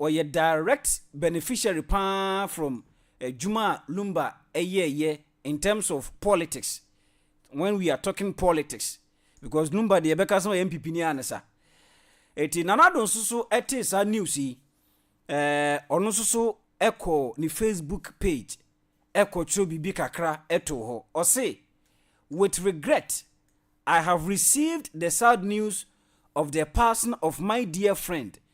Ɔyɛ direct beneficiary paa from adwuma a Lumba yɛɛyɛ in terms of politics when we are talking politics because Lumba deɛ yɛbɛka sɛ ɔyɛ NPP ni ara ne sa. Eti Nana Addo nso so tee saa news yi, eh, ɔno nso so kɔɔ ne Facebook page ɛkɔtwerɛ biribi kakra ɛtoo hɔ. Ɔse, With regret, I have received the sad news of the passing of my dear friend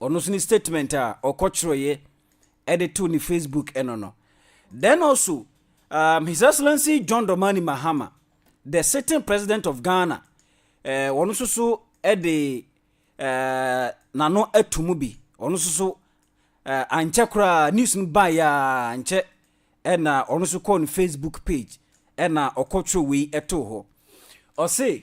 ɔno nso ne statement a ɔkɔtwerɛeɛ de too ne Facebook ɛno no. Then also, um, His Excellency John Dramani Mahama, the sitting president of Ghana, eh, ɔno nso so de eh, n'ano ato mu bi, ɔno nso so eh, ankyɛ koraa news no baeɛ a nkyɛ ɛna ɔno nso kɔɔ ne Facebook page ɛna ɔkɔtwerɛ wei ɛtoo hɔ. Ɔse,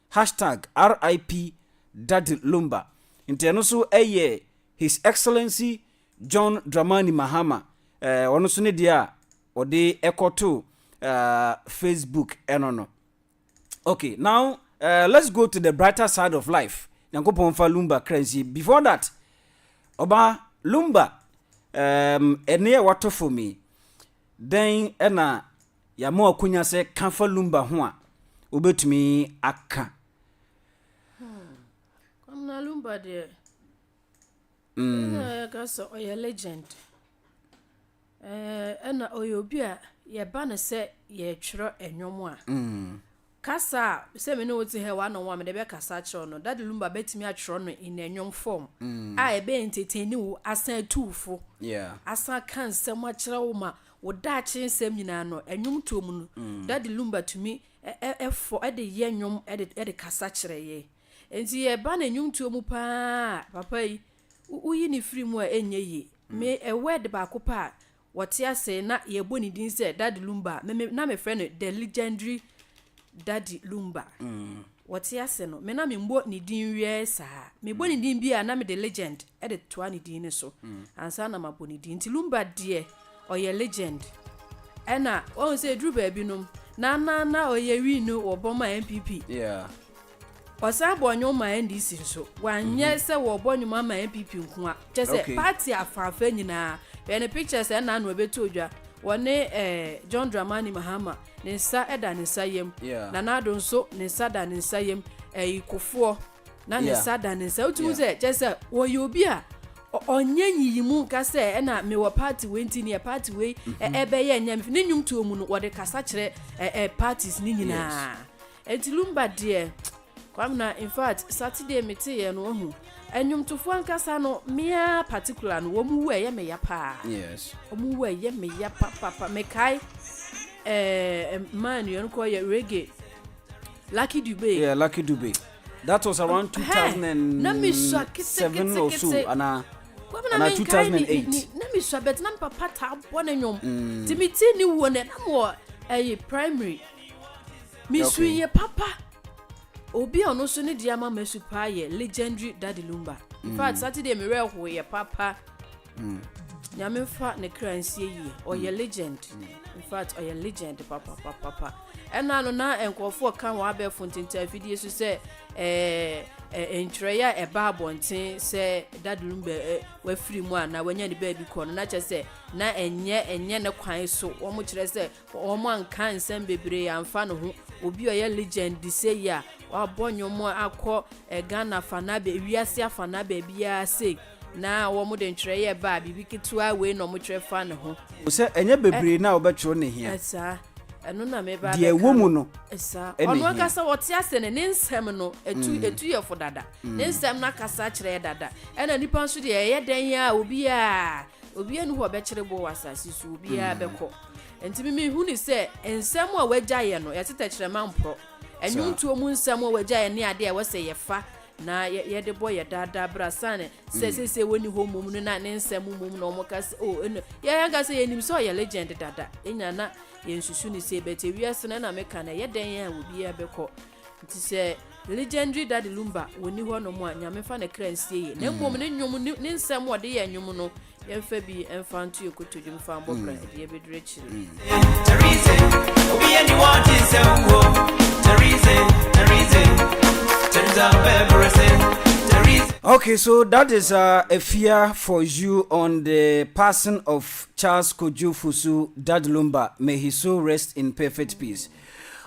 Hashtag RIP Daddy Lumba nti ɛno nso yɛ His Excellency John Dramani Mahama eh, ɔno nso ne deɛ a ɔde ɛkɔto uh, Facebook ɛno no okay now uh, let's go to the brighter side of life nyankopɔn fa Lumba kra nsi before that ɔba Lumba um, ɛne a wato fam yi dɛn ɛna yɛama wo akonya sɛ ka fa lumba ho a wobɛtumi aka kwamina lumba deɛ yɛka sɛ ɔyɛ legend ɛna ɔyɛ obi a yɛba no sɛ yɛtwerɛ ɛnwom a Kasa a sɛ me ne wo te ha yi one on one mede bɛkasa akyerɛ wo no, Daddy Lumba bɛtumi atwerɛ no in a nnwom form a ɛbɛ entertain wo asan atu wo fo, asan aka nsɛm akyerɛ wo ma wo daakye nsɛm nyinaa no, nnwomtoɔ mu no, Daddy Lumba tumi fɔ de yɛ nnwom de kasa kyerɛ yɛn. Nti yɛba no nnwomtoɔ mu pa ara a, papa yi, woyi no firi mu a ɛnyɛ yie. Me, word baako pɛ a wɔte ase na yɛbɔ ne din sɛ Daddy Lumba a, me me na mefrɛ no The Legendary Daddy Lumba. Wɔte ase no, me na memmɔ ne din wiɛɛ saa. Mebɔ ne din bi a, na mede Legend de toa ne din no so ansa na mabɔ ne din. Nti Lumba deɛ, ɔyɛ Legend. Ɛna, wahu sɛ ɛduru baabi nom, na na na ɔyɛ wii no wɔ Bɔma NPP. Yeah. Ɔsan bɔɔ nnwom maa NDC nso. Wanyɛ sɛ wɔbɔ nnwom ama NPP nko a, kyerɛ sɛ Okay. party afaafa nyinaa. Hwɛ ne pictures a ɛnna ano a ɛbɛtoo dwa. Wɔne eh, John Dramani Mahama, ne nsa da ne nsa yam. Yeah. Nana Addo nso, ne nsa da ne nsa yam. Ɛyi Kufuor, na ne Yeah. nsa da ne nsa. Wotumi hu Yeah. sɛ, kyerɛ sɛ wɔyɛ obi a ɔ- ɔnyɛ nyiyimu nka sɛ ɛna mewɔ party wei nti neɛ party wei ɛ- ɛbɛyɛ nyɛ me fɛ. Ne nnwomtoɔ mu no, wɔde kasa kyerɛ ɛ- ɛ, parties ne nyinaa. Enti Lumba deɛ Kwame na in fact Saturday me te yɛ no wahu Ɛnwomtofoɔ ankasa no meaa particular no wɔn wu ɛyɛ me ya paa Yes Wɔn wu ɛyɛ me ya pa pa pa me kae eh, man no yɛn kɔ yɛ reggae Lucky Dube Yeah Lucky Dube That was around 2007 or so and I Kwame na me nkae ni ni na me sua bɛt na me papa taa bɔ ne nwom mm. Ti me ti ni wuo ne na mo ɛyɛ primary Me su yɛ papa. Obi a ɔno nso ne deɛ ama masu paa yɛ legendary Daddy Lumba. In fact, Saturday me werɛ hoeɛ papa. Nyame mfa ne kra nsie yie. Ɔyɛ legend. In fact, ɔyɛ legend papa papa papa. Ɛna no na nkurɔfoɔ ka wɔn abɛɛfo ntintan afidie so sɛ ɛɛ ɛ- ntwerɛeɛ a ɛba abɔnten sɛ Daddy Lumba ɛ, wafiri mu anaa wanya ne baabi kɔ no na kyerɛ sɛ na ɛnyɛ ɛnyɛ ne kwan so. Wɔkyerɛ sɛ Wɔanka nsɛm bebree amfa no ho. Obi a ɔyɛ legend seyi a wabɔ nnwom akɔ Ghana afanaa baabi, wiase afanaa baabiara sei na wɔde ntwerɛeɛ ba a, biribi ketewa wei na wɔtwerɛ fa ne ho. O sɛ ɛnyɛ bebree na wɔbɛtwerɛ na ɛhia. Saa. Ɛno na meba abɛka no. Deɛ ɛwɔ mu no na ɛhia. Saa. Ɔno ankasa ɔte ase no, ne nsɛm no, ɛtu, ɛtu yɛ fo dada. Ne nsɛm no akasa kyerɛ yɛ dada. Ɛna nnipa nso deɛ, ɛyɛ dɛn ara a, obiara, obiara nni hɔ a ɔbɛkyere boɔ wɔ asase so, obiara bɛkɔ. Nti me mehunui sɛ nsɛm a wagya yɛ no yɛte tɛkyerɛma mporɔ. Ɛnwontoɔ mu nsɛm a wagya yɛ ne adeɛ a ɛwɔ sɛ yɛfa na yɛde bɔ yɛ daa daa berɛ asane sɛ mm. seesei wɔnni hɔ mmom no na ne nsɛm mmom na wɔka sɛ o oh, ɛno yɛanka sɛ yɛnim sɛ ɔyɛ legend dada ɛnya na yɛnsusu ne sei bɛte wiase no na meka no ɛyɛ dɛn a obiara bɛkɔ nti sɛ legendary dade lumba wɔni hɔ nom a nyame fa ne kra nsie yɛ na mmom ne nnwom ne nsɛm wɔde yɛ nnwom no yɛmfa bi mfa nto yɛ kotodwe mfa mbɔ bra ɛde yɛbɛduru akyiri Okay, so that is uh, a fear for you on the passing of Charles Kojo Fusu Dadulumba. May his soul rest in perfect peace.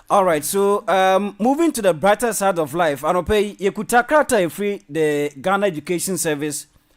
All right, so um, moving to the brighter side of life, Anope Yekuta Krata free the Ghana Education Service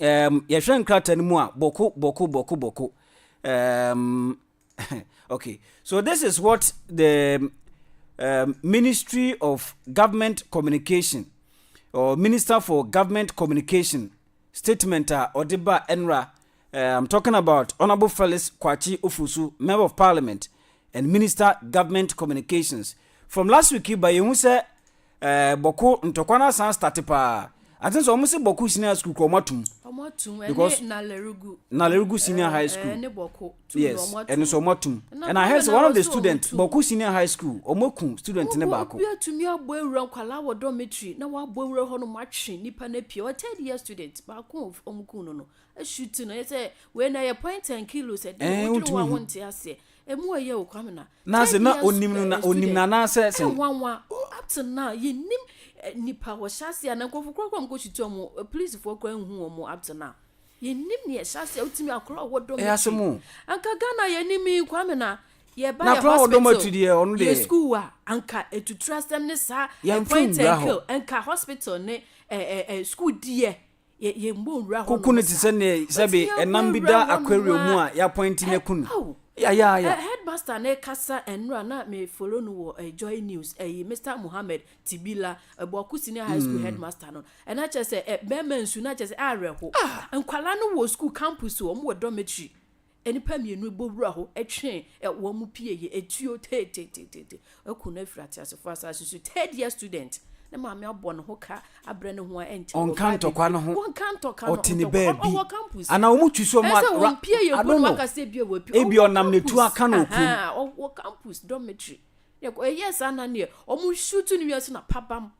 um, yɛhwɛ nkrataa no mu a bɔko bɔko bɔko bɔko um, okay so this is what the um, ministry of government communication or minister for government communication statement a ɔde ba ɛnra uh, i'm talking about honorable felix kwachi ofusu member of parliament and minister government communications from last week ba yɛhu sɛ Ɛɛ bɔko ntɔkwa no asan starte paa. I think sɛ wɔn se bɔko senior school kura wɔn atum. Wɔn atum ɛne nalerugu. Nalerugu senior high school. Ɛne bɔko tum yes. wɔn atum. Ɛno so wɔn atum. And I heard sɛ one of the student bɔko senior high school wɔn aku student ne baako. Obi atumi abɔ ewura nkwalaa wɔ dormitory na wabɔ ewura hɔ nom atwe nipa na pie. Ɔyɛ third year student baako wɔn ku no no. Shooting no, sɛ wei na yɛ point and kill o, sɛ deɛ wodwene ho a wonte aseɛ. Emu ɛyɛ o kwame na. Na sɛ na onim no na onim na na sɛ sɛ. Ɛnwanwa up to now yɛnim nipa wɔ hyɛ aseɛ na nkurɔfo kura kura wɔn kɔ shoot wɔn polisifoɔ kura nhu wɔn up to now. Yɛnim ne ɛhyɛ aseɛ wotumi akora ɔwɔ dɔm akyi. Anka Ghana yɛnim yi kwame na yɛba yɛ hospital yɛ school a anka etutura asɛm ne saa point and kill anka hospital ne ɛɛ school deɛ. Kuku no te sɛ nea sɛbe ɛnam bi da aquarium mu a yɛapɔinte no aku no. Yeah, yeah, yeah. Uh, headmaster ne kasa enra na me follow no wɔ uh, Joy News. Uh, Mr. Mohammed Tibila, uh, Boku Senior High School mm. headmaster no. And I just say, uh, bɛma nsu na just awerɛho. Ah. Nkwala no wɔ school campus wɔn wɔ dormitory. Nnipa mmienu bɔ wura hɔ twe wɔn mu pie yɛ etuo teeteeteete aku no afiri ateasefoɔ asase so. Third year student ne maame abɔ ne ho ka abrɛ ne ho a ɛnkyɛ wɔn Ɔnka ntɔkwa no ho. Wɔnka ntɔka no Ɔte ne ntɔkwa baabi. ɔwɔ campus. Anaa wɔn twi so mu Ɛsɛ a- ra- wɔn pie yɛ I mpo don't na know. waka sɛ ebia wapi. Ebia Ɔwɔ ɔnam n'atuo campus. aka na okum. Ahaa, Ɔwɔ campus dormitory. Yɛ- Ɛyɛɛ saa na neɛ wɔn shoot no wie nso na pabam.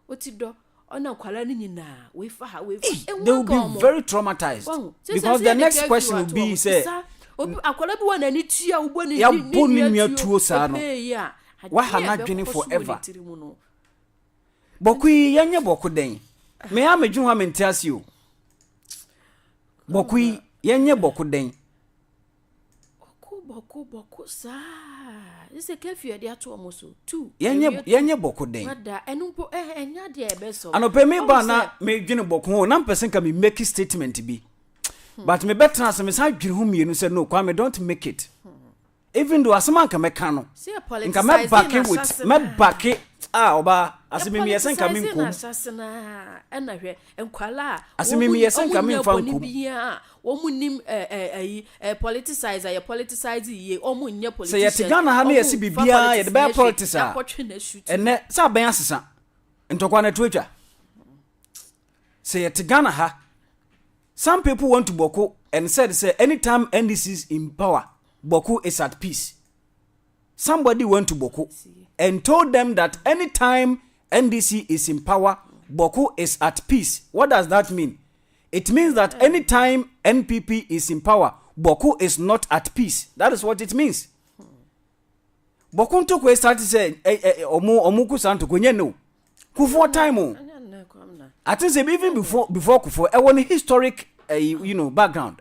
Oti dɔ ɔna nkwadaa no nyinaa wei fa ha wei fa eh, they will be very traumatized because the next question will be sɛ akwadaa bi wɔ n'ani tua wobɔ ne yɛbɔ ne nua tuo saa no waha n'adwene forever bɔko yi yɛnyɛ bɔko dɛn me a medwene hɔ a mente ase o bɔko yi yɛnyɛ bɔko dɛn Bɔko bɔko bɔko saa. This is curfew ɛde ato wɔn so. Two. Yɛnyɛ ɛwie two. yɛnyɛ bɔko dɛn. Ada ɛno mpo ɛ ɛnyɛ adeɛ a ɛbɛsɔ. anɔpɛ mi Ɔhu ba na sɛ- medwene bɔko ho na mpɛ sɛ nka me make statement bi but mebɛtena ase mesan adwene ho mmienu sɛ no kwame don't make it even though asɛm a nka mɛka no Sɛ yɛ politicize nka mɛbake na with asase no a. mɛbake a ɔbaa ase memeyɛ sɛ nka Ɛpoliticize na menkɔm asase no a, ɛna hwɛ nkwadaa a Ase wɔn mu- memeyɛ sɛ nka wɔn nyɛ memfa bɔne nkom. biara a, Wɔn nnim eh eh ayi eh politicize a yɛ politicize yie wɔn nyɛ politicians. Sɛ yɛ te Ghana ha na yɛ se biribiara yɛ de bɛyɛ politics a ɛnɛ sɛ abɛn asesa ntɔkwa na ɛto atwa. Sɛ yɛ te Ghana ha some people want to bɔko and said sɛ anytime NDC is in power bɔko is at peace. Somebody went to bɔko and told them that anytime NDC is in power bɔko is at peace. What does that mean? it means that any time npp is in power bɔko is not at peace that is what it means bɔko ntoko esate sɛ ɔmo ɔmo ko saa ntoko nyɛ ne o kufuo time o i think say even before before kufuo ɛwɔ ne historic uh, you know background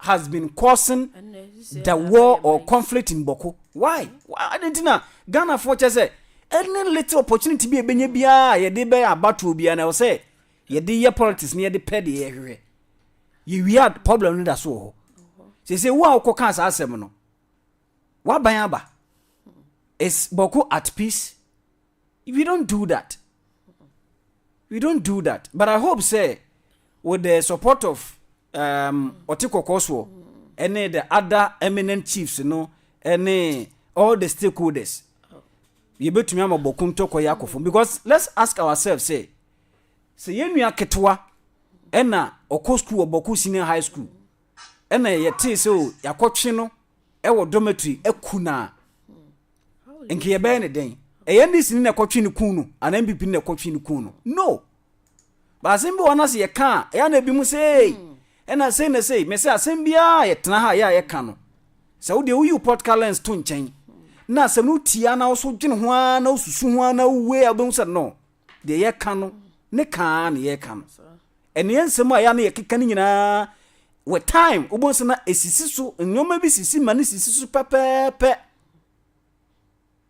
has been causing the war or conflict in bɔko why adi nti na ghana fo kyɛ sɛ any little opportunity bi a ebenya biara yɛde bɛyɛ abatoɔ biara na ɛsɛ yɛde yɛ politics na yɛde pɛ deɛ yɛhwehwɛ yɛwia problem no da so wɔ hɔ sese wo a wokɔ kaa saa asɛm no waban aba is bɔko at peace we don't do that we don't do that but i hope say with the support of um, ɔte kɔkɔɔ soɔ ɛne the other eminent chiefs no ɛne all the stakeholders yɛbɛtumi ama bɔko ntɔkɔ yɛ akɔ fam because let's ask ourselves sɛ sɛ yɛn nua ketewa ɛna ɔkɔ sukuu wɔ bɔko senior high school ɛna yɛtee sɛ o oh, yɛakɔtwe no ɛwɔ dormitory aku no a nka yɛbɛyɛ ne dɛn ɛyɛ ndc ne na ɛkɔtwe no kun no anaa npp ne na ɛkɔtwe no kun no no Ba asɛm bi wɔ hɔ na sɛ yɛka a, ɛyɛ na ebinom sɛ ee, ɛna sei na sei. Mese asɛm biara a yɛtena ha a yɛ a yɛka no, sɛ wo deɛ woyi wo podcast lens to nkyɛn na asɛm no tie ara na wo so dwene ho ara na wosusu ho ara na wowei a wobɛhu sɛ no, deɛ yɛka no ne ka ara na yɛka no. Ɛno yɛ nsɛm a ɛyɛ a na yɛkeka no nyinaa with time wobɛhu sɛ na ɛsisi so, nneɛma bi sisi ma no sisi so pɛpɛɛpɛ.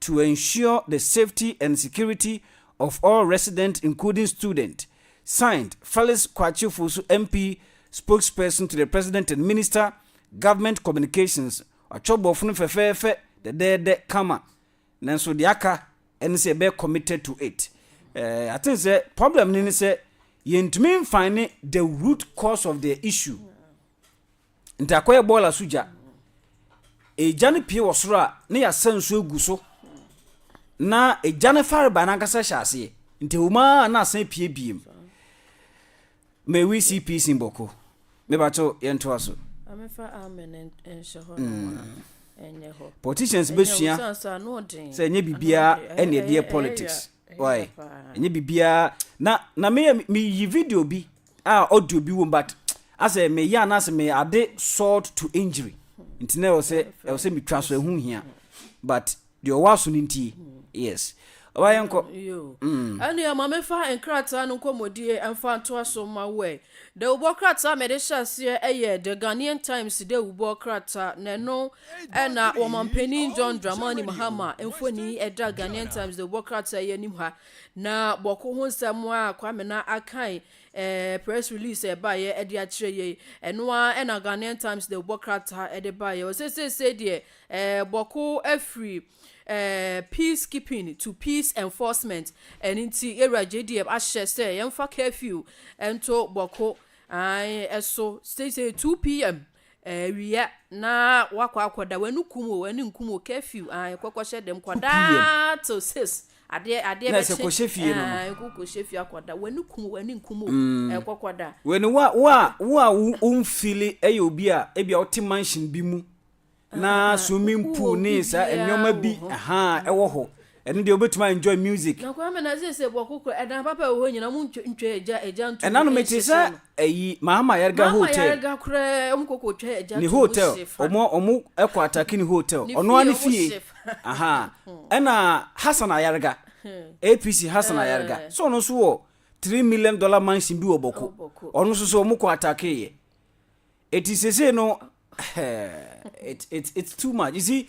to ensure the safety and security of all resident including student, signed, Felix Kwakye Ofosu MP spokesperson to the President and Minister, Government Communications Watwerɛ borɔfo no fɛfɛɛfɛ dɛdɛɛdɛ kama nanso deɛ aka ɛne sɛ yɛbɛyɛ committed to it. Uh, I think sɛ problem no ne sɛ yɛntumi mfine the root cause of the issue. Nti akɔyɛ boiler so gya. Egya no pue wɔ soro a na yɛasa nsuo agu so na egya no farebae no ankasa hyɛ aseɛ. Nti ɛwɔ mu ara na asan pue biem. May we see peace in Boko. Mebakyɛw yɛntoa so. Amefa amen nhyɛ hɔ nom a mm. ɛnyɛ hɔ. Politicians bɛsua sɛ ɛnyɛ biribiara ɛne ɛdeɛ politics. Why? Ɛnyɛ biribiara na na meyɛ meyi video bi a audio bi wom but asɛ meyɛ anaasɛ meyɛ ade salt to injury nti na ɛwɔ sɛ ɛwɔ sɛ metwa so ɛho hia but deɛ ɔwɔ aso no ntie yes ɔba yɛ nkɔ mm. ɛnua ma mefa nkrataa no nkɔmmɔdie ɛmfa ntoa so ma wɛ dawubɔ krataa mede hyɛ aseɛ ɛyɛ the ghanaian times dawubɔ krataa na ɛno ɛna wɔmampanin john dramani mahama mfoni ɛda ghanaian times dawubɔ krataa yɛ anim ha Na bɔko ho nsɛm a Kwame na akae eh, press release a ɛbaeɛ ɛde akyerɛ yei, ɛno ara ɛna Ghanaian Times de bɔ krataa ɛde baeɛ. Ɔse seesei deɛ eh, bɔko afiri eh, peace keeping to peace enforcement, ɛno nti yɛwura JDM ahyɛ sɛ yɛmfa curfew nto bɔko ae ɛso seesei 2 pm. Awia na wakɔ akɔda w'ani kum o w'ani nkum o curfew ah ɛkɔ kɔhyɛ dɛm kɔdaa till six adeɛ adeɛ bɛkye ɛɛ kɔhyɛ fie no no ɛkɔ kɔhyɛ fie akɔda w'ani kum o w'ani nkum o ɛkɔ mm. kɔda. w'ani wo a wo a wo a wo nfili ɛyɛ obi a ebi a ɔte mansion bi mu na ah, ah, ah. swimming pool ne saa nneɛma bi ɛwɔ hɔ Ɛno deɛ wobɛtumi a enjoy music. Na kwame na seesei bɔko kura ɛdan papa a ɛwɔ hɔ nyinaa ɔmo ntwa ntwa agya agya nto Ɛna mu no mete sɛ nhyehyɛ no. ayi Mahama Yarga Mahama hotel. yarga koraa ɔmo kɔ kɔ twa agya Ne to mu hotel hye fa. ɔmo ɔmo ɛkɔ atake ne hotel Ne ɔno ara fie ne ɔmo fie hye fa. ahaa ɛna Hassan Ayarga APC Hassan Ayarga Eh. sɛ ɔno nso wɔ three million dollar mansion bi wɔ bɔko Wɔ Bɔko. ɔno nso so ɔmo kɔ atake yɛ eti seesei no ɛhɛɛ it it it's too much you see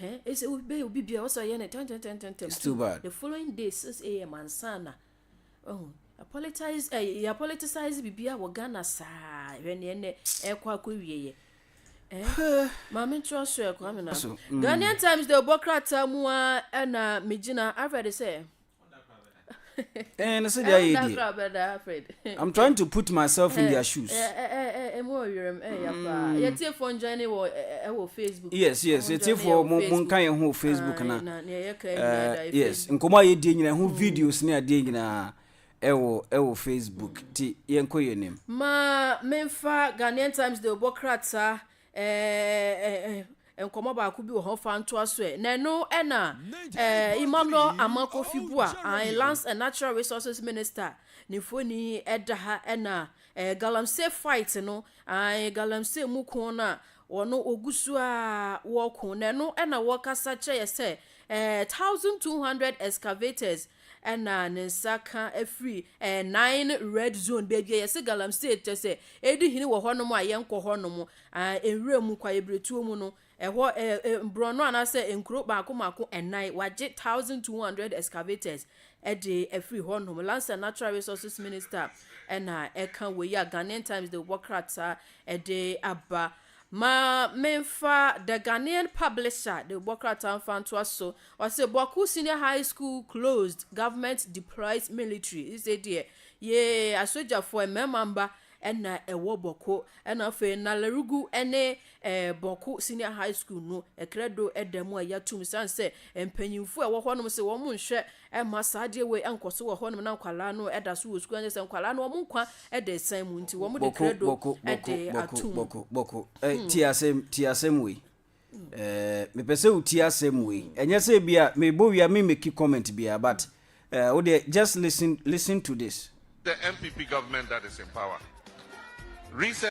Hɛn ese wo bɛyɛ obi biara ɔsɛ ɔyɛ no ntɛntɛntɛntɛntɛm. It's too bad. The following day six am ansana ɔho yɛapolitise eh, yɛapolitisize biribiara wɔ Ghana saa hwɛ neɛ nɛ ɛkɔ akɔ wie yɛ. Eh, maame ntorɔ so ɛkɔ amena. So, mm. Ghanaian Times de ɔbɔ krataa mu a ɛna megyina afɛde sɛ. Eh, no so deɛ ayɛ die. I'm trying to put myself in their shoes. Yes, yes, yɛtiefoɔ mo mo nka yɛn ho Facebook na. Yes, nkɔmɔ a yɛdie nyinaa ho videos ne adeɛ nyinaa ɛwɔ ɛwɔ Facebook ti yɛn kɔ yɛn nim. Ma memfa Ghanaian Times de ɔbɔ krataa Ɛɛ nkɔmɔ baako bi wɔ hɔ fa ntoa so ɛ na ɛno ɛna ɛɛ Emmanuel Amakofi Bua an Lands and Natural Resources Minister ne mfoni ɛda ha ɛna ɛɛ galamsey fight no an galamsey mu ko no a wɔn ogu so a wɔko na ɛno ɛna wɔkasa kyerɛ yɛ sɛ ɛɛ thousand two hundred excavators Ɛna ne nsa ka ɛfiri ɛɛ nine red zone baabi a yɛsɛ galamsey tɛ sɛ ɛdi hene wɔ hɔ nom a yɛn kɔ hɔ nom ɛɛ nwura mu kwaebiretuo mu no ɛhɔ ɛɛ ɛɛ borɔno anaasɛ nkuro baako mako ɛnan wagye thousand two hundred excavators ɛde ɛfiri hɔ nom lansa natural resources minister ɛna ɛka wɔ yi a Ghanaian times de wɔ krataa ɛde aba Ma memfa The Ghanaian Publisher de bɔ krataa mfa ntoa so. Ɔse Bawku Senior High School closed, Government deploys military. Sesei deɛ yee asogyafoɔ, mmarima mma na ɛwɔ Bawku. Ɛna afei Nalerugu ne eh, Bawku Senior High School no, ɛkrɛdo da mu a yɛatom esiane sɛ mpanyimfoɔ a ɛwɔ hɔnom se wɔn nhwɛ Ɛmma saa adeɛ wei nkɔ so wɔ hɔ nom na nkwadaa no da so wɔ sukuu anyɛ sɛ nkwadaa no wɔn nkwa da asiane mu nti wɔn de kredo Boko, boko, boko, de boko, atum. boko, boko. Eh, tie asɛm, tie asɛm wei. Eh, mepɛ sɛ wotie asɛm wei. Ɛnyɛ sɛ ebi a mebɔ wia me meki comment biara, but eh, wo deɛ just listen, listen to this. The NPP government that is in power recently.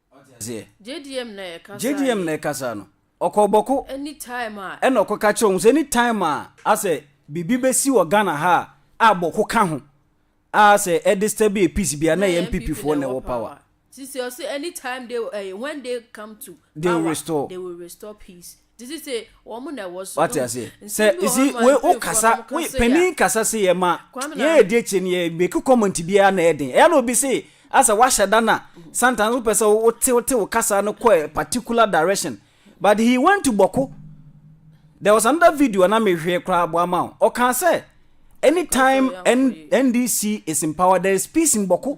Ɔte aseɛ? JDM na ɛkasa JDM yi. na ɛkasa no. Ɔkɔɔ bɔko. Anytime a. Ɛna ɔkɔ ka kyerɛ wɔn sɛ anytime a asɛ biribi bɛsi wɔ Ghana ha a, a bɔko ka ho, a asɛ ɛdisturbe yɛ peace bia na ɛyɛ NPP foɔ na ɛwɔ power. Sisi ɔse anytime they, eh, when they come to power, they will restore, they will restore peace. Wate aseɛ? Sɛ you see wei wo kasa wo panin kasa se yɛ ma yɛ yɛ di akyire no yɛ make comment biara na ɛden ɛyɛ na obi se asa wahyɛ da na sometimes wo pɛ sɛ wo te wo te wo kasa no kɔ a particular direction but he went to bɔko there was another video a na me hwɛ koraa bɔ ama wo ɔka sɛ anytime N, NDC is in power there is peace in bɔko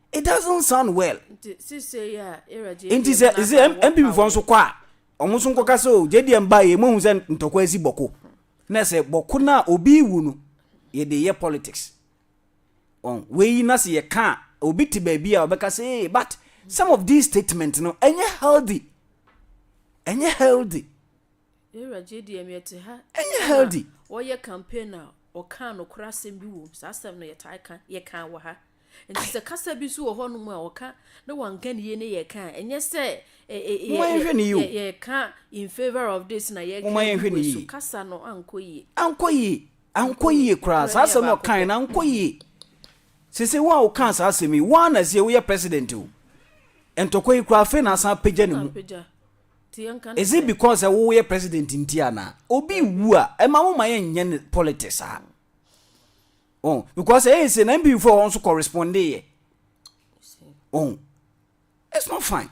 it doesn't sound well nti sɛ sɛ npp fɔ nso kɔ a ɔmo nso nkɔka sɛ o jdm ba yɛ mohu sɛ ntɔkwa asi bɔko na sɛ bɔko no a obi wu no yɛde yɛ politics ɔn wei na sɛ yɛka a obi te baabi a ɔbɛka sɛ ee but some of these statements no ɛnyɛ healthy ɛnyɛ healthy ɛnyɛ healthy wɔyɛ campaign a ɔka nokorɛ asɛm bi wɔ mu saa asɛm no yɛtaa ka yɛka wɔ ha Enti sɛ kasa bi nso wɔ hɔnom a wɔka na wɔanka no yie ne yɛka a, ɛnyɛ sɛ yɛka in favour of this na yɛka yi wei so. Kasa no ankɔ yie. Ankɔ yie. Ankɔ yie koraa. Saa asɛm no ɔkae no ankɔ yie. Sese wo a wokaa saa asɛm yi, woa na sie woyɛ president o. Ntɔkwa yi koraa afei na asan apagya ne mu. Is it because sɛ woyɛ president nti anaa? Obi wu a, ɛma mo ma yɛnyɛ politics a. ɔn because ɛyɛ sɛ na mpanyinfoɔ a wɔn nso correspondee yɛ ɔn it's not fine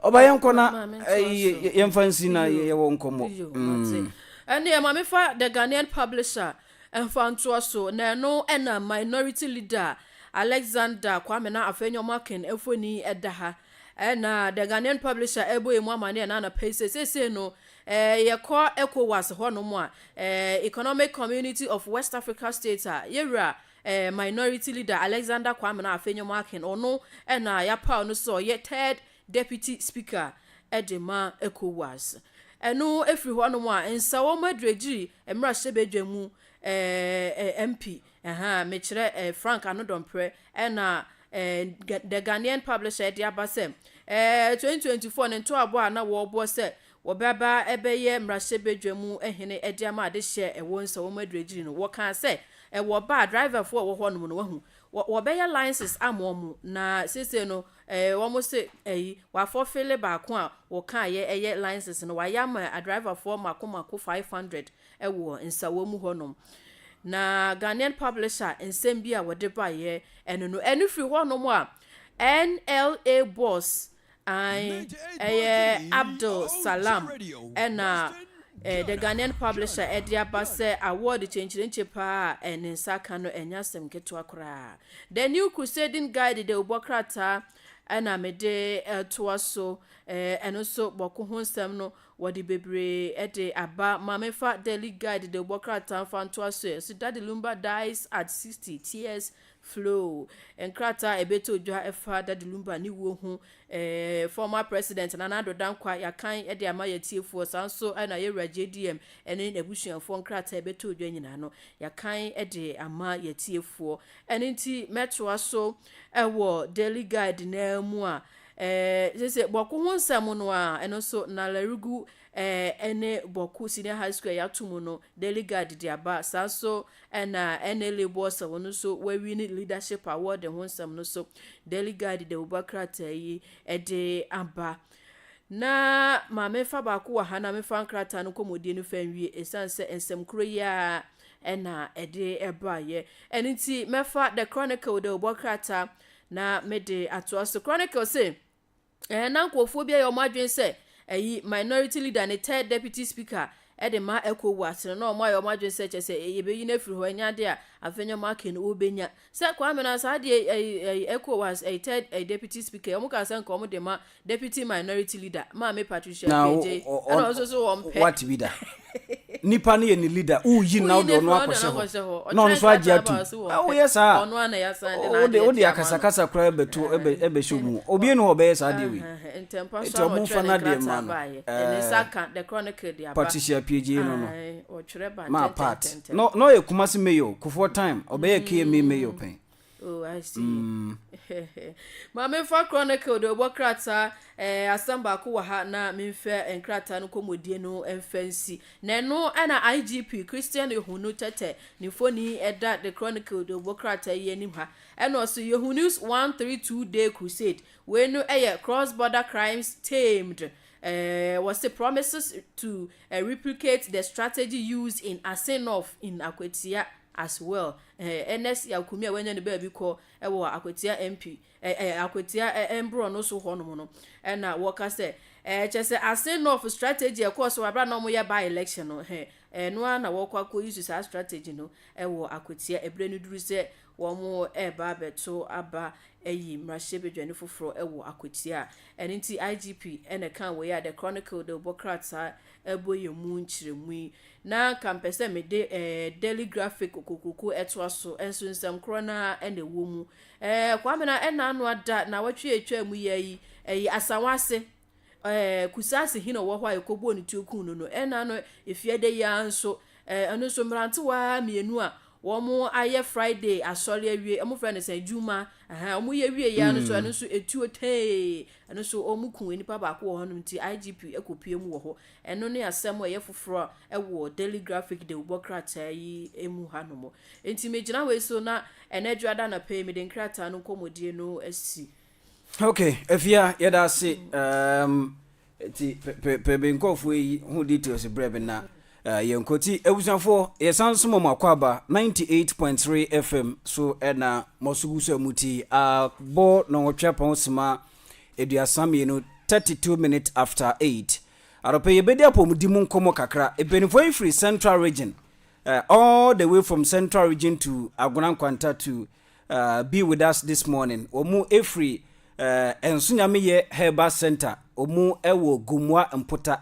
ɔba yɛn nkɔ na ɛyi yɛn fa nsi na yɛ wɔ nkɔmɔ. ɛnni ɛma mi fa the ghanaian publisher ɛnfa ntoa so na ɛno ɛna minority leader alexander kwame na afei nyɔma akin efoni ɛda ha ɛna the ghanaian publisher ɛbɔ emu amane ɛna anapa yi sɛ sese no Eh, yɛkɔ Ecowas hɔ nom a, eh, Economic Community of West Africa States a, yɛwura eh, Minority Leader Alexander Kwame na afei nyom Akin, ɔno ɛna yɛapaw no sɛ ɔyɛ Third Deputy Speaker ɛde ma Ecowas. Ɛno ɛfiri hɔ nom a, nsa wɔn aduagyiri mmarahyɛbadwa mu eh, eh, MP, ɛha, mekyerɛ eh, Frank Anodɔmprɛ ɛna ɛɛ, The Ghanaian Publisher de aba sɛ, ɛɛ, 2024 no ntoaboa a na wɔrebɔ sɛ wɔbɛba abɛyɛ mmarahyɛbadwa mu hene de ama adehyeɛ a ɛwɔ nsawam agyiriagyiri no, wɔkaa sɛ ɛwɔ ba a driverfoɔ a ɛwɔ hɔnom no, wahu, wɔ, wɔbɛyɛ license ama wɔn, na seesei no, ɛɛ, wɔn se, ɛyi, wɔafɔfele baako a wɔkaeɛ ɛyɛ license no, wɔayɛ ama adriverfoɔ mako mako 500 wɔ nsawɔ mu hɔnom. Na Ghanaian Publisher nsɛm bi a wɔde baeɛ ɛno no, ɛno firi hɔnom a NLA boss an ɛyɛ Abdul Salam ɛna eh, The Ghanaian Publisher ɛde aba sɛ award kyenkyerenkye paa a eh, ne nsa aka no ɛnyɛ asɛm ketewa koraa. The New Crusading Guide dawubɔ krataa ɛna mede eh, toa so eh, ɛno nso bɔko ho nsɛm no Wɔde bebree de aba ma me fa Daily Guide dawubɔ krataa mfa ntoa so ɛ Ciudad de Lumba dies at 60, tears flow Nkrataa a ɛbɛtɔ dwa ɛfa Da de Lumba ne wuo ho ɛ Former President Nana Addo Dankwa Yɛakan de ama yɛatiefoɔ saa nso na Yɛwura JDM ne n'abusuafoɔ nkrataa a ɛbɛtɔ dwa nyinaa no yɛakan de ama yɛatiefoɔ Ɛno nti mɛtoa so wɔ Daily Guide no ara mu a, sese Bɔko ho nsɛm no a, ɛno nso Nalarigu ne Bɔko Senior High School a yɛato mu no, Daily Guide de aba. Saa nso na NA Labels a wɔn nso wɔawi ne Leadership Award ho nsɛm no nso, Daily Guide de abuba krataa yi de aba. Na ma memfa baako wɔ ha na memfa nkrataa no kɔmmɔdie no fa nwie ɛsiane sɛ nsɛm koro yi a ɛna ɛde ɛbaeɛ ɛno nti mɛfa the chronicle de ɔbɔ krataa na mede atoa so chronicle se ɛɛ na nkurɔfoɔ bi ayɛ wɔn adwene sɛ ɛyi minority leader ne third deputy speaker de ma ɛkɔ wu ase no, na wɔayɛ wɔn adwene sɛ kyerɛ sɛ yɛbɛyi no afiri hɔ, ɛnyɛ adeɛ a afei ne wɔn aka no wɔbɛnya. Sɛ Kwame na saa adeɛ ɛyi ɛyi Ecowas ɛyi third ɛyi deputy speaker yi, wɔn kaa sɛ nka wɔn de ma deputy minority leader, maame Patricia Na Kpeje yi, ɔ, ɛna wɔn nso so wɔn ɔ, pɛ. what bi da? Nipa no yɛ ne leader, woyi no na Woyi wode no ɔno afiri hɔ, wode akɔhyɛ ɔno hɔ, akɔhyɛ hɔ. na ɔno Ɔkyerɛ nso agye nkrataa atom. ba so wɔn Ah, pɛ. woyɛ saa a, Ɔno ara na yɛasan de ɔ, wode, n'adeɛ wode ato ama no. akasakasa koraa bɛto, ɛbɛ, ɛbɛhyɛ wo mu. Ɔ, Obiara nni hɔ a ɔbɛyɛ saa adeɛ wei. Ahaa. Ntɛmpa so ara na ɔtwerɛɛ ne nkrataa baeɛ. Patricia Piegie no no maa Pat. Na ɔyɛ Kumasi mayor o, Kufuor time, ɔbɛyɛɛ KMA mayor pɛn. Oh, I see. Mm. Maame fa Chronicle de ɔbɔ krataa eh, asɛm baako wɔ ha na memfɛ nkrataa no kɔmmɔdie no mfa nsi. Na ɛno ɛna IGP Christian Ehunu Tɛtɛ ne mfoni ɛda The Chronicle de ɔbɔ krataa yi anim ha. Ɛna ɔso Yehu News 132 Day Crusade Wei no yɛ Cross Border Crimes Tamed eh, wɔse promises to eh, replicate the strategy used in Asin North in Akwatia as well. Eh, Ernest Yakumia wanya ne baabi kɔ eh, wɔ Akwatia MP, eh, eh, Akwatia eh, eh, mborɔ no so hɔnom no. Eh, na wɔka sɛ, eh, kyɛ sɛ Asin North strategy a ɛkɔɔ so wɔ abera na wɔyɛ by election no, eh, eh, no ara na wɔkɔ akɔyi so saa strategy no eh, wɔ Akwatia. Ebere no duru sɛ Wɔreba abɛto aba ayi mmarahyɛbadwani foforo wɔ akwatia a ɛno nti IGP na ɛkaa wei a The Chronicle de bɔ krataa bɔ yɛn mu nkyerɛmu yi. Na anka mepɛ sɛ mede eh, Daily Graphic kokuroko toa so, nso nsɛm korɔ no ara na ɛwɔ mu. Eh, Kwame na ɛna ano ada, nnawɔtwe a ɛtwaa mu yi ayi, ayi Asawa ase, Ɛɛ, Kusase hene a ɔwɔ hɔ a yɛkɔbɔɔ ne tuo kuu no no, ɛna no Efiada yi ara nso, ɛɛ, ɛno nso mmerantewa mmienu a wɔayɛ Friday asɔre awie, wɔfrɛ no sɛn, Juma, ɛhɛn, wɔyɛ wieeɛ ara no nso, ɛno nso etuo tee, ɛno nso wɔkuu nnipa baako wɔ hɔnom nti IGP kɔpue mu wɔ hɔ. Ɛno ne asɛm a ɛyɛ foforɔ a ɛwɔ Daily Graphic dawubɔ krataa yi mu hanom. Enti megyina wei so na ɛnnɛ Dwoada anɔpa yi mede nkrataa no nkɔmmɔdie no asi Ok Afia yɛda ase um, ti pɛ bɛ nkɔfoɔ yi ho details berɛ bi na uh, yɛnkɔ ti abusuafoɔ yɛsan so mɔm akɔ aba 98.3 FM so ɛna mɔsogu so a muti abɔ nɔnwɔtwe apɔn sima aduasa mmienu 32 minutes after 8 adɔpɛ yɛbɛdi apɔmudi mu nkɔmmɔ kakra mpanimfoɔ yi firi central region uh, all the way from central region to agona nkwanta to uh, be with us this morning ɔmu ɛfiri uh, nso nyameyɛ herbal center ɔmu ɛwɔ gumua mpota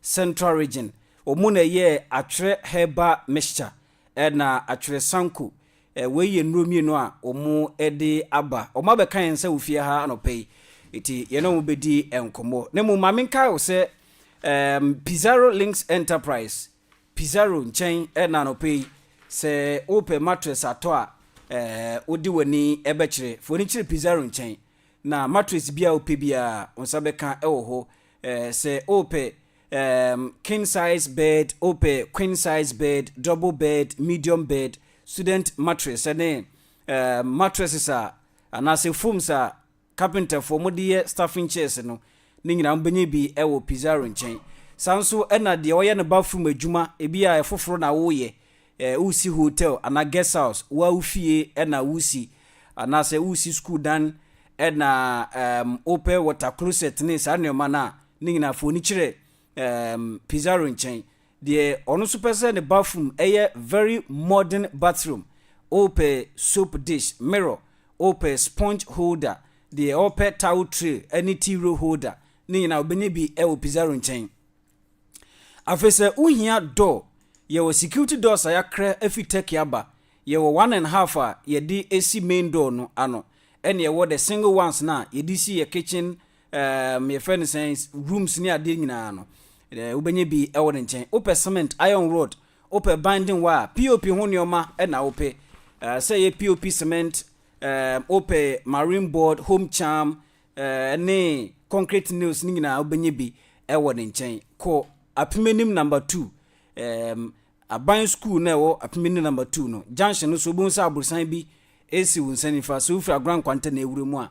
central region ɔmu na ɛyɛ atwerɛ herbal mixture ɛna atwerɛ sanko eh, wei yɛ nnuro mmienu a ɔmu ɛde aba ɔmu abɛka yɛn sɛ ofie ha anɔpɛ yi ɛti yɛne ɔmu bɛdi nkɔmmɔ na mu maame nkae wo sɛ um, pizarro links enterprise Pizarro nkyɛn ɛna anɔpa yi. Sɛ wopɛ mattress atɔ a, eh, wode w'ani bɛkyerɛ. Fa w'ani kyerɛ Pizarro nkyɛn, na mattress biara a wopɛ biara, wo nsa bɛka wɔ hɔ. Eh, sɛ wopɛ, ehm, king size bed, wopɛ queen size bed, double bed, medium bed, student mattress ne, eh, mattresses a, anaasɛ foams a, carpenterfoɔ wɔde yɛ staffing chairs no, ne nyinaa mobɛnya bi wɔ Pizarro nkyɛn. Saa nso na deɛ ɔyɛ no bathroom adwuma, ebi a ɛfoforo na woreyɛ, eh, woresi hotel anaa guest house, wo ara wo fie na woresi, anaasɛ woresi sukuu dan, ɛna um, wopɛ water closet ne saa nneɛma no a, ne nyinaa fa w'ani kyerɛ um, Pizarro nkyɛn. Deɛ ɔno nso pɛ sɛ ne bathroom yɛ very modern bathroom, wopɛ soap dish, mirror, wopɛ sponge holder, deɛ ɔpɛ towel tray ne tea roll holder, ne nyinaa wobɛnya bi wɔ Pizarro nkyɛn. Afei sɛ wohia door, yɛwɔ security doors a yɛakrɛ afi Turkey aba, yɛwɔ one and half a yɛde si main door no ano, ɛna yɛwɔ the single ones no a yɛde si yɛ kitchen um yɛfrɛ no sɛn rooms ne adeɛ nyinaa no eh, wobɛnya bi ɛwɔ ne nkyɛn wopɛ cement iron road wopɛ binding wire pop ho nneɛma ɛna wopɛ eh, sɛ yɛ pop cement um, wopɛ marine board home charm eh, ne concrete nails ne nyinaa wobɛnya bi ɛwɔ ne nkyɛn kɔ apimanim number two um, aban school na ɛwɔ apimanim number two no junction no so wobɛhu sɛ aborosan bi ɛsi wo nsa nifa so wofiri agora nkwanta na ɛwura mu a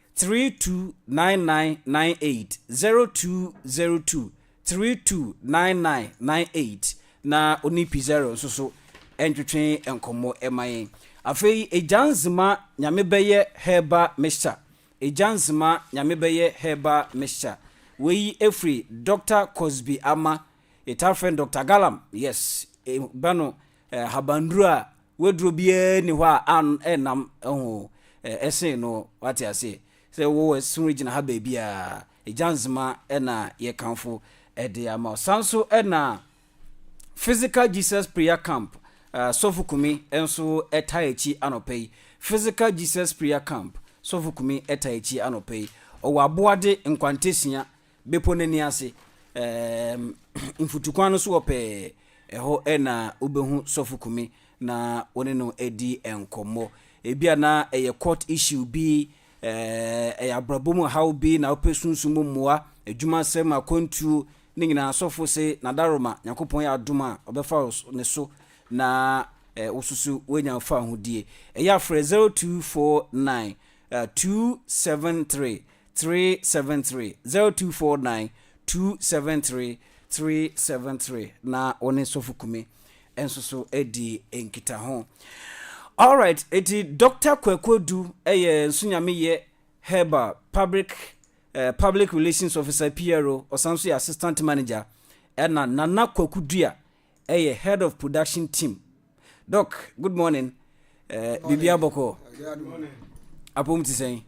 three two nine nine nine eight zero two zero two three two nine nine nine eight na ɔne Pizarro nso so ntwetwe nkɔmmɔ ma yɛn. Afei Agya Nzema Nyame bɛyɛ herbal mixture Agya Nzema Nyame bɛyɛ herbal mixture Wei firi Doctor Cosby Ama Yɛtaa frɛ no Doctor Galam Yes, ɛba no Ahabanduru a waduro biara nni hɔ a an ɛnam ho ɛsen no wate aseɛ sɛ wowɔ ɛsono gyina ha baabi a ɛgya nzema ɛna yɛkanfo ɛde ama san so ɛna physical jesus prayer camp uh, sɔfo kumi nso ɛta akyi anɔpa yi physical jesus prayer camp sɔfo kumi ɛta akyi anɔpa yi ɔwɔ aboade nkwantasia Bepɔ no ani ase, ɛɛm, mfutukwan no so hɔ pɛɛ, ɛhɔ na wobɛhu Sɔfo Kumi na wo ne no adi nkɔmmɔ. Ebia na ɛyɛ court issue bi, ɛɛm, ɛyɛ abrabɔ mu haw bi na wopɛ sunsum mu mmoa, adwumasɛm, akwantuo, ne nyinaa Sɔfo se, Nadaroma, Nyankopɔn yɛ adom a, ɔbɛfa wo ne so na wo so so woanya mfaahodie. Ɛyɛ a frɛ 0249 273 three seven three zero two four nine two seven three three seven three na wo ne sɔfo kume nso so adi nkitaho alright eti dr kwakodu ɛyɛ nsonyameyɛ herbal public eh, public relations officer pro ɔsan so yɛ assistant manager ɛna nana kwakodua Ɛyɛ head of production team. Doc good morning eh, biribi abɔkɔ apom te sɛn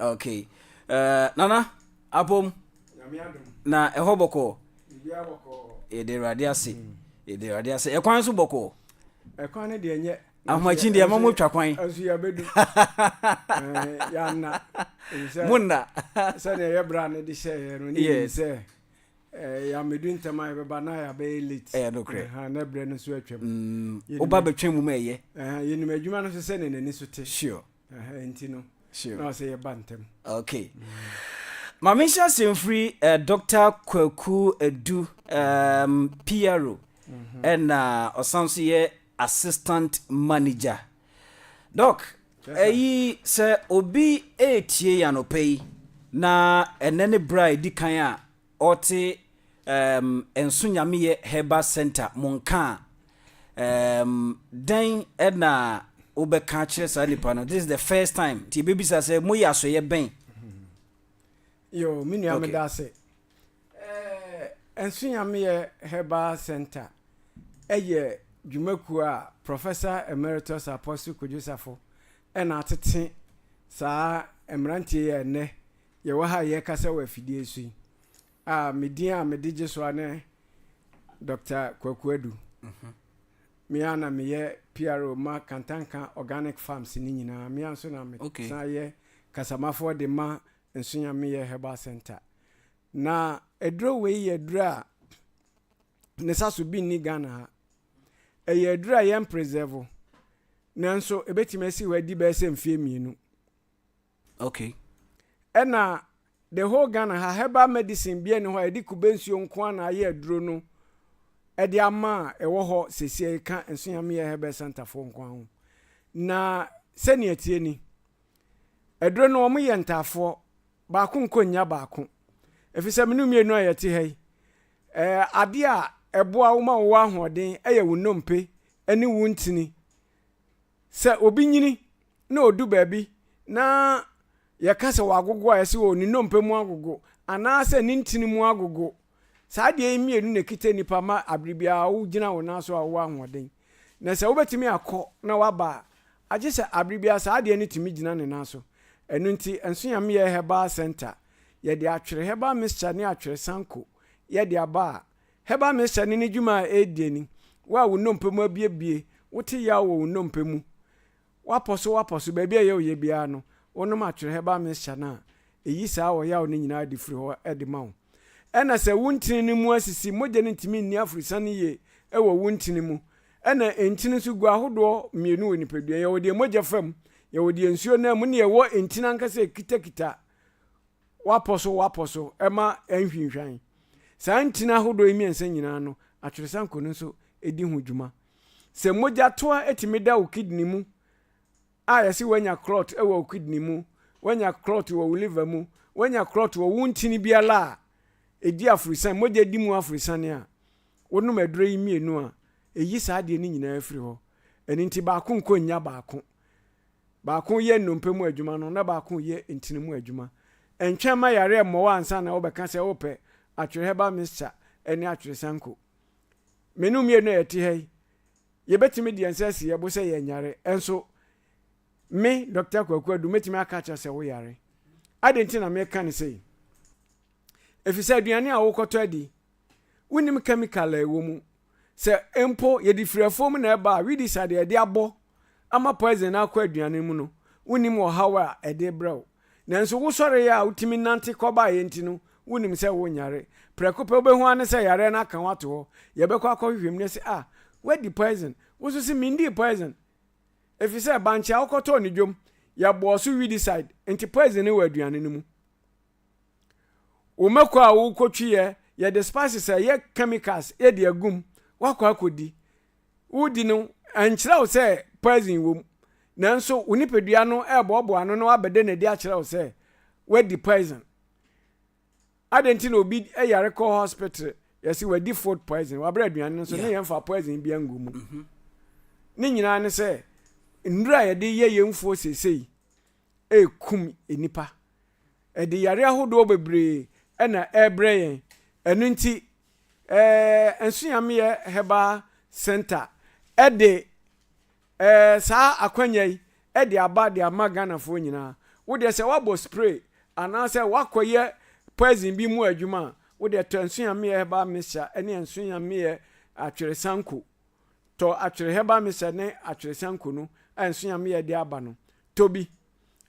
ok eh, nana apom na ɛhɔ bɔkɔ yɛde awurade ase yɛde awurade ase ɛkwan so bɔkɔ ɛkwan no deɛ nyɛ ahomakyin deɛ ma motwa kwan nso yɛbɛdu yɛanna monna sɛdeɛ yɛbra no de hyɛeɛ no ne sɛ Eh, ya me du ntɛm a yɛbɛba na ya bɛyɛ late. Ɛyɛ nokorɛ. Aha, na brɛ no nso atwam. Mm, Yɛnim- woba bɛtwɛn mu ma ɛyɛ. Aha, yɛnim adwuma no nso sɛdeɛ n'ani so te. Sure, Aha, nti no, sure. na ɔsɛ yɛba ntɛm. Okay. Ma menhyɛ ase mfiri eh, Dr. Kwaku Adu, um, PRO, ɛna ɔsan nso yɛ Assistant manager, Doc, ɛyi sɛ obi retie yɛn anɔpa yi na ɛnɛ ne berɛ a ɛdi kan a ɔte um, Nso Nyameyɛ Herbal Center mo nka a, um, dɛn na wobɛka akyerɛ saa nipa no? This is the first time, nti yɛbɛbisa sɛ moyɛ asoyɛ bɛn? Yo, me nua okay. meda ase. Ɛɛ, Nsunyameyɛ Herbal Center yɛ dwumakuo a Professor Emeritus Apostle Kojo Safo na atete saa mmeranteɛ yi a ɛnnɛ yɛwɔ ha a yɛrekasa wɔ afidie so yi. A me din a mede gye so a ne Dr. Kwaku Adu. Mhm. Me a na meyɛ PRO ma Kantanka Organic Farms ne nyinaa. Me a nso na mesan yɛ kasamafoɔ de ma Nsunyameyɛ Herbal Centre. Na aduro wei yɛ aduro a ne sa so bi nni Ghana ha. Ɛyɛ aduro a yɛn presɛvo. Nanso ɛbɛtumi asi hɔ adi bɛyɛ sɛ mfeɛ mmienu. Ok. Ɛna the whole Ghana ha herbal medicine biara nni hɔ a yɛde kube nsuo nko ara na ayɛ aduro no de ama a ɛwɔ hɔ seesei ka Nsunyameyɛ Herbal Centre foɔ nko ara ho. Na sɛnea ɛteɛ ni. Aduro no wɔn yɛ ntaafoɔ, baako nkɔ nnya baako. Ɛfiri sɛ mene mmienu a yɛte ha yi, eh, adeɛ a ɛboa wo ma wowɔ ahoɔden yɛ wo nnompe ne wo ntini. Sɛ obi nyini na ɔdu baabi na yɛka sɛ wagogo a, yɛse o ne nnompe mu agogo anaasɛ ne ntini mu agogo. Saa adeɛ yi mmienu na ɛkita nipa ma abere biara wogyina wo nan so a wowɔ ahoɔden. Na sɛ wobɛtumi akɔ na woaba a, agye sɛ abere biara saa adeɛ no tumi gyina ne nan so. Ɛno nti, nso yɛn meyɛɛ herbal centre. Yɛde atwere herbal mixture ne atwere sanko yɛ de aba a, herbal mixture ne ne dwuma a ɛredie ni, wo a wo nnompe mu abuebue, wote yaw wɔ wo nnompe mu, Woapɔ so, woapɔ so, baabi a ɛyɛ wo yɛ biara no, wonom atwerɛ herbal mixture no a, ɛyi saa ɔyaw no nyinaa de firi hɔ de ma wo. Ɛna sɛ wo ntini no mu asisi, mogya no ntumi nni aforosiane yie wɔ wo ntini mu. Ɛna ntini nso gu ahodoɔ mmienu wɔ nipadua. Yɛwɔ deɛ mogya fa mu, yɛwɔ deɛ nsuo nam mu, ne yɛwɔ ntini ankasa ɛkitakita woapɔ so, woapɔ so ɛma ɛnhwinhwan. Saa ntini ahodoɔ yi mmiɛnsa nyinaa no, atweresankɔ no nso di ho dwuma. Sɛ mogya toa tumi da wo kidney mu a yɛse woanya clot wɔ wo kidney mu, woanya clot wɔ wo liver mu, woanya clot wɔ wo ntini biara a ɛdi aforosiane, mogya di mu aforosiane a, wonom aduro yi mmienu a, ɛyi saa adeɛ no nyinaa firi hɔ. Ɛno nti baako nkɔ nnya baako. Baako yɛ nnompe mu adwuma no na baako reyɛ ntini mu adwuma. Ntwɛn ma yareɛ mmɔ wo ansa na wobɛka sɛ wopɛ atwere herbal mixture ne atwere sanko. Me ne wo mmienu a yɛte ha yi, yɛbɛtumi de yɛn nsa asi yɛn bo sɛ yɛnyare. Nso me, Dɔkta Kwaku Adu, mɛtumi aka akyerɛ sɛ woyare. Adɛn nti na meka no sei? Efisɛ aduane a wokɔtɔ adi, wonim kɛmikal a ɛwɔ mu. Sɛ mpo yɛde firi afuo mu na ɛba a, weedicide a yɛde abɔ ama poison no akɔ aduan no mu no, wunnim ɔhaw a ɛde rebrɛ wo. Nanso wosɔree a wutumi nante kɔbaeɛ nti no, wunim sɛ worenyare. Prɛko pɛ wobɛhu ara ne sɛ yareɛ no aka wo ato hɔ. Yɛbɛkɔ akɔhwehwɛ mu na yɛse, Ah, woadi poison. Wo nso se, Mendii poison. Ɛfiri sɛ bankye a wokɔtɔɔ no dwam, yɛbɔɔ so weedicide, enti poison no wɔ aduane no mu. Wo mako a wokɔtwiiɛ, yɛde spices a ɛyɛ chemicals de agu mu, woakɔ akɔdi. woredi no nkyerɛ wo sɛ poison wom, nanso wo nipadua no reboaboa ano na wabɛda no adi akyerɛ wo sɛ woadi poison. Adɛn nti na obi yare kɔ hospital yɛse wadi food poison, wabrɛ aduane no so ne yɛmfa poison bia ngu mu. Mhm. Ne nyinaa ne sɛ nnuro a yɛde yɛ yɛn mfuo seesei ɛrekum nnipa ɛde yare ahodoɔ bebree ɛna ɛrebrɛ yɛn ɛno nti eh, Nsunyamyɛ Herbal Centre de eh, saa akwanya yi de aba de ama Ghanafoɔ nyinaa. Wo deɛ sɛ woabɔ spray anaasɛ woakɔyɛ poison bi mu adwuma a, wo deɛ tɔ Nsunyamyɛ Herbal Mixture ne Nsunyamyɛ Atwere Sanko. Tɔ Atwere Herbal Mixture ne Atwere Sanko no a Nsunyamyɛ de aba no, tɔ bi.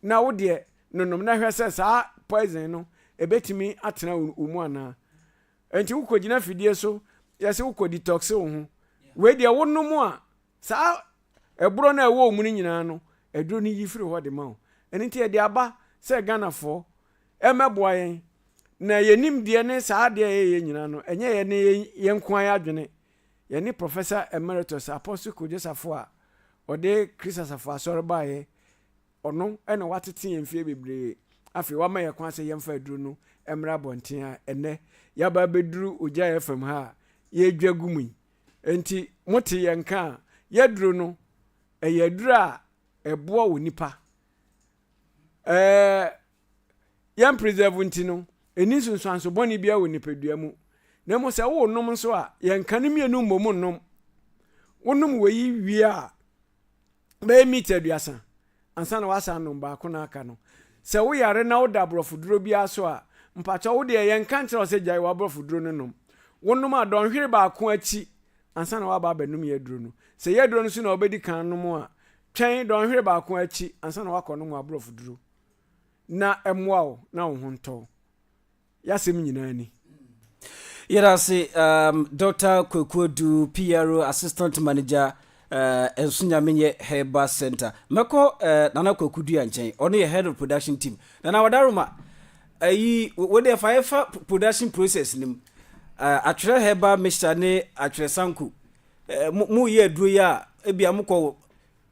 Na wo deɛ nonom na hwɛ sɛ saa poison no ɛbɛtumi atena wo mu anaa. Ɛnti wo kɔ gyina fidie so yɛse wo kɔ detoxe wo ho wei deɛ wo nom a saa ɛborɔ no a ɛwɔ wo mu no nyinaa no aduro no yi firi hɔ de ma wo ɛno nti yɛde aba sɛ Ghanafoɔ ɛmɛboa yɛn na yɛn nim deɛ ne saa adeɛ a yɛyɛ nyinaa no ɛnyɛ yɛn ne yɛn nko ara adwene yɛn ne Professor Emeritus Apostle Kojo Safo a ɔde Christ Asafo Asɔre baeɛ Ɔno na watete yɛn mfeɛ bebree. Afei wama yɛn kwan sɛ yɛmfa aduro no mmra abɔnten a ɛnnɛ yɛaba abɛduru Ogya FM ha a yɛredwa gu mu yi. Enti mote yɛn nka a, yɛaduro no, ɛyɛ aduro a ɛboa onipa. Ɛɛ, yɛn preserve nti no, ɛni nsunsuanso bɔne biara wɔ nipadua mu. Na mmom sɛ worenom nso a, yɛnka no mmienu mmom nnom. Wonom wei wie a, bɛyɛ meat aduasa ansa na wasan nom baako na aka no sɛ woyare na woda aborɔfo duro biara so a mpakyɛ wo deɛ yɛnka nkyerɛ wo sɛ gyae w'aborɔfo duro no nom wonom a dɔnhwere baako akyi ansa na waba abɛnom yɛ aduro no sɛ yɛ aduro no so na wobɛdi kan nom a twɛn dɔnhwere baako akyi ansa na wakɔ nom aborɔfo duro na ɛmmoa wo na wo ho ntɔ Y'asɛm nyinaa ni. Yɛda ase um, Doctor Kwaku Adu, PRO, Assistant Manager, uh, Nso Nyamenyɛ Herbal Center. Mɛkɔ uh, Nana Kwaku Dua nkyɛn, ɔno yɛ Head of Production Team. Nana Wadaroma, ayi, uh, wɔde ɛfa yɛfa production process no mu. Uh, atwerɛ Herbal Mixture ne atwerɛ Sanko. Uh, mo yɛ aduro yi a, ebi a mokɔ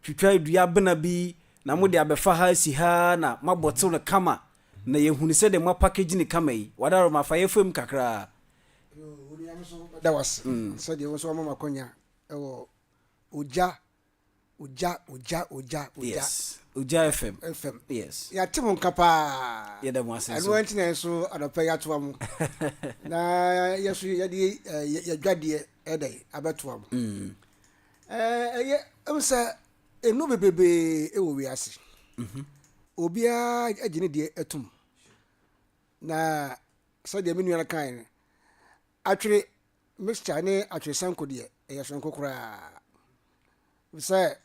twitwa dua bena bi, na mode abɛfa ha si ha na mabɔ tew no kama. Na yɛhunu sɛ deɛ moapakage no kama yi, wadaworo ma fa yɛ fam kakra. Wo nua no nso bɛda wo ase sɛdeɛ wo nso woama me akwanya wɔ Ogya, Ogya, Ogya, Ogya, Ogya. Yes, Ogya FM. FM. Yes. Yɛate mo nka paa. Yɛda mo ase nso. Ɛno nti na yɛn nso anɔpa yi atoa mo. Na yɛn nso yɛde yɛdwadeɛ ɛdɛ abɛtoa mo. Ɛyɛ, ɛmu sɛ Nnuro bebrebee wɔ wiase. Obiara gye ne deɛ atum. Na sɛdeɛ me nua no kae no, atwere mixture ne atwere sanko deɛ, ɛyɛ soronko koraa. Sɛ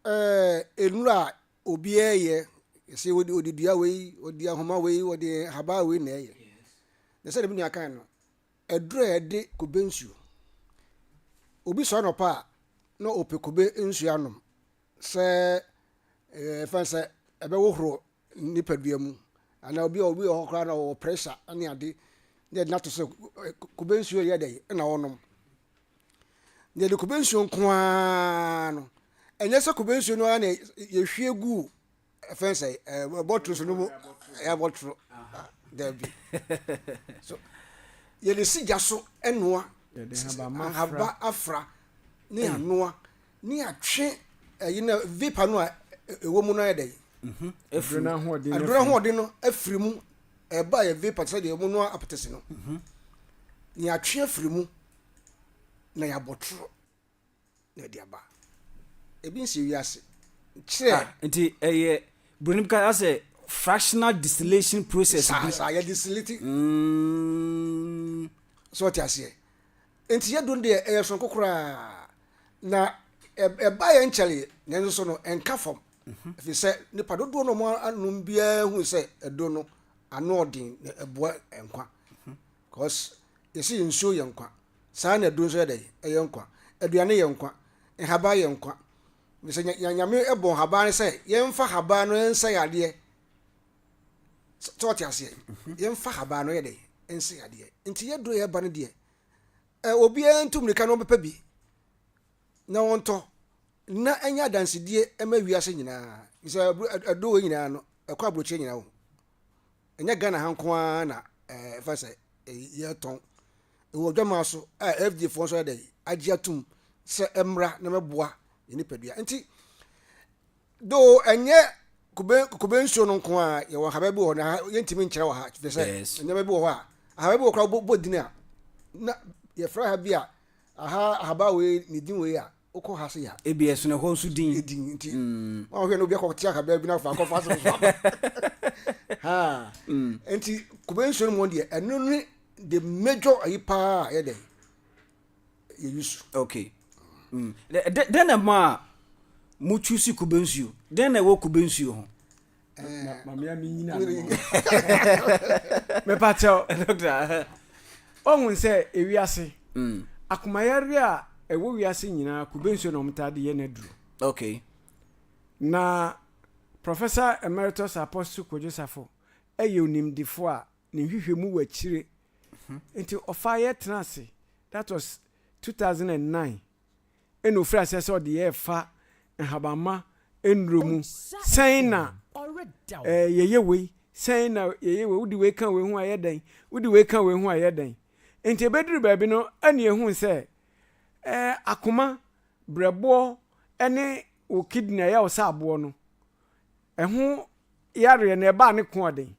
ɛɛ nnuro a obiara yɛ, sɛ wɔde wɔde dua wei, wɔde ahoma wei, wɔde haba wei na ɛyɛ. Na sɛdeɛ me nua kae no, Aduru a ɛde kube nsuo. Obi sɔre anɔpa a na ɔpɛ kube nsuo anom sɛ ɛfɛn sɛ ɛbɛhohoro nipadua mu anaa obi obi wɔ hɔ koraa na ɔwɔ pressure ne ade na ɛde no ato sɛ kube nsuo yɛ dɛn na ɔnom. Deɛ de kube nsuo nko ara no ɛnyɛ sɛ kube nsuo no ara na yɛhwie gu o. Ɛfɛn sɛ ɛɛ bɔtoro so no mu ɛyɛ bɔtoro dɛbi so yɛde si gya so ɛnoa ahaba afra ne anoa ne atwe ɛyi na vapor no a ɛwɔ mu no ayɛ dɛ. Aduro no ahoɔden. Aduro ahoɔden no afiri mu ɛba yɛ vapor sɛ deɛ wɔn noa apɛtɛsi no. Yɛatwe afiri mu na yɛabɔ toro. na ɛde aba ebi nhyɛ wiase kyerɛ. Ah, nti ɛyɛ eh, buroni bi ka sɛ fractional distillation process bi. saa yɛ distillate. Mm. sɛ ɔte aseɛ nti yɛ duro no deɛ ɛyɛ soronko koraa na ɛba yɛ nkyɛre nanso so no ɛnka fam mhm. ɛfiri sɛ nipa dodoɔ no ɔmo anom biara hu sɛ ɛduro no ano ɔden na ɛboa nkwa mhm. because yɛsi nsuo yɛ nkwa. Saa na aduro nso yɛ dɛn? Ɛyɛ nkwa. Aduane yɛ nkwa. Nhaban yɛ nkwa. Sɛ Nyame bɔ nhaban no sɛ yɛmfa haban no nsɛ yadeɛ. Sɛ ɔte aseɛ? Mhm. Yɛmfa haban no yɛ dɛn? Nsɛ yadeɛ. Nti yɛ duro yɛba no deɛ. Obiara ntu mmirika na ɔbɛpɛ bi na ɔntɔ na ɛnyɛ adansedie ɛma wiase nyinaa. Sɛ aduro wɔ nyinaa no ɛkɔ aburokyerɛ nyinaa o. Ɛnyɛ Ghana ha nko ara na ɛfa sɛ yɛtɔn. ɛwɔ adwammaa so a FDA foɔ nso ayɛ dɛn agye atum sɛ ɛmmra na mɛboa yɛn nipadua nti do ɛnyɛ kube kube nsuo no nko a yɛwɔ nhaban bi wɔ hɔ na yɛntumi nkyerɛ wɔ ha fɛ sɛ nneɛma bi wɔ hɔ a ahaban bi wɔ kora bɔ din a na yɛfrɛ ha bi a aha ahaban wei ne din wei a Wokɔ ha sei a. Ebia ɛsono ɛhɔ nso din. Edin nti. Wɔn a wɔhwɛ no obi akɔ te akabaa bi na afa akɔfa asɛm so aba. Ha. Nti kube nsuo no mu deɛ ɛno ne the major ayi paa a yɛ dɛ yɛ use. Okay. Dɛn na ɛma a mo choose kube nsuo? Dɛn na ɛwɔ kube nsuo ho? mamea menyina mepakyɛw ɔhu sɛ ewiase mm. akomayare a ɛwɔ wiase nyinaa kube nsuo na wɔtaa de yɛ no aduro okay na professor emeritus apostle kodwosafo ɛyɛ onimdefo a ne nhwehwɛ mu wɔ akyire mhm. nti ɔfa yɛ tena ase that was 2009 na ɔfiri aseɛ sɛ ɔde yɛ fa nhabamma nnuro mu, sɛn na yɛyɛ wei, sɛn na yɛyɛ wei, wode wei ka wei ho ayɛ dɛn, wode wei ka wei ho ayɛ dɛn. Nti ɛbɛduru baabi no ɛne ɛhu sɛ akoma, brɛboɔ ne wo kidney a ɛyɛ wo sɛ aboɔ no, ɛho yareɛ no ɛbaa ne ko ɔden.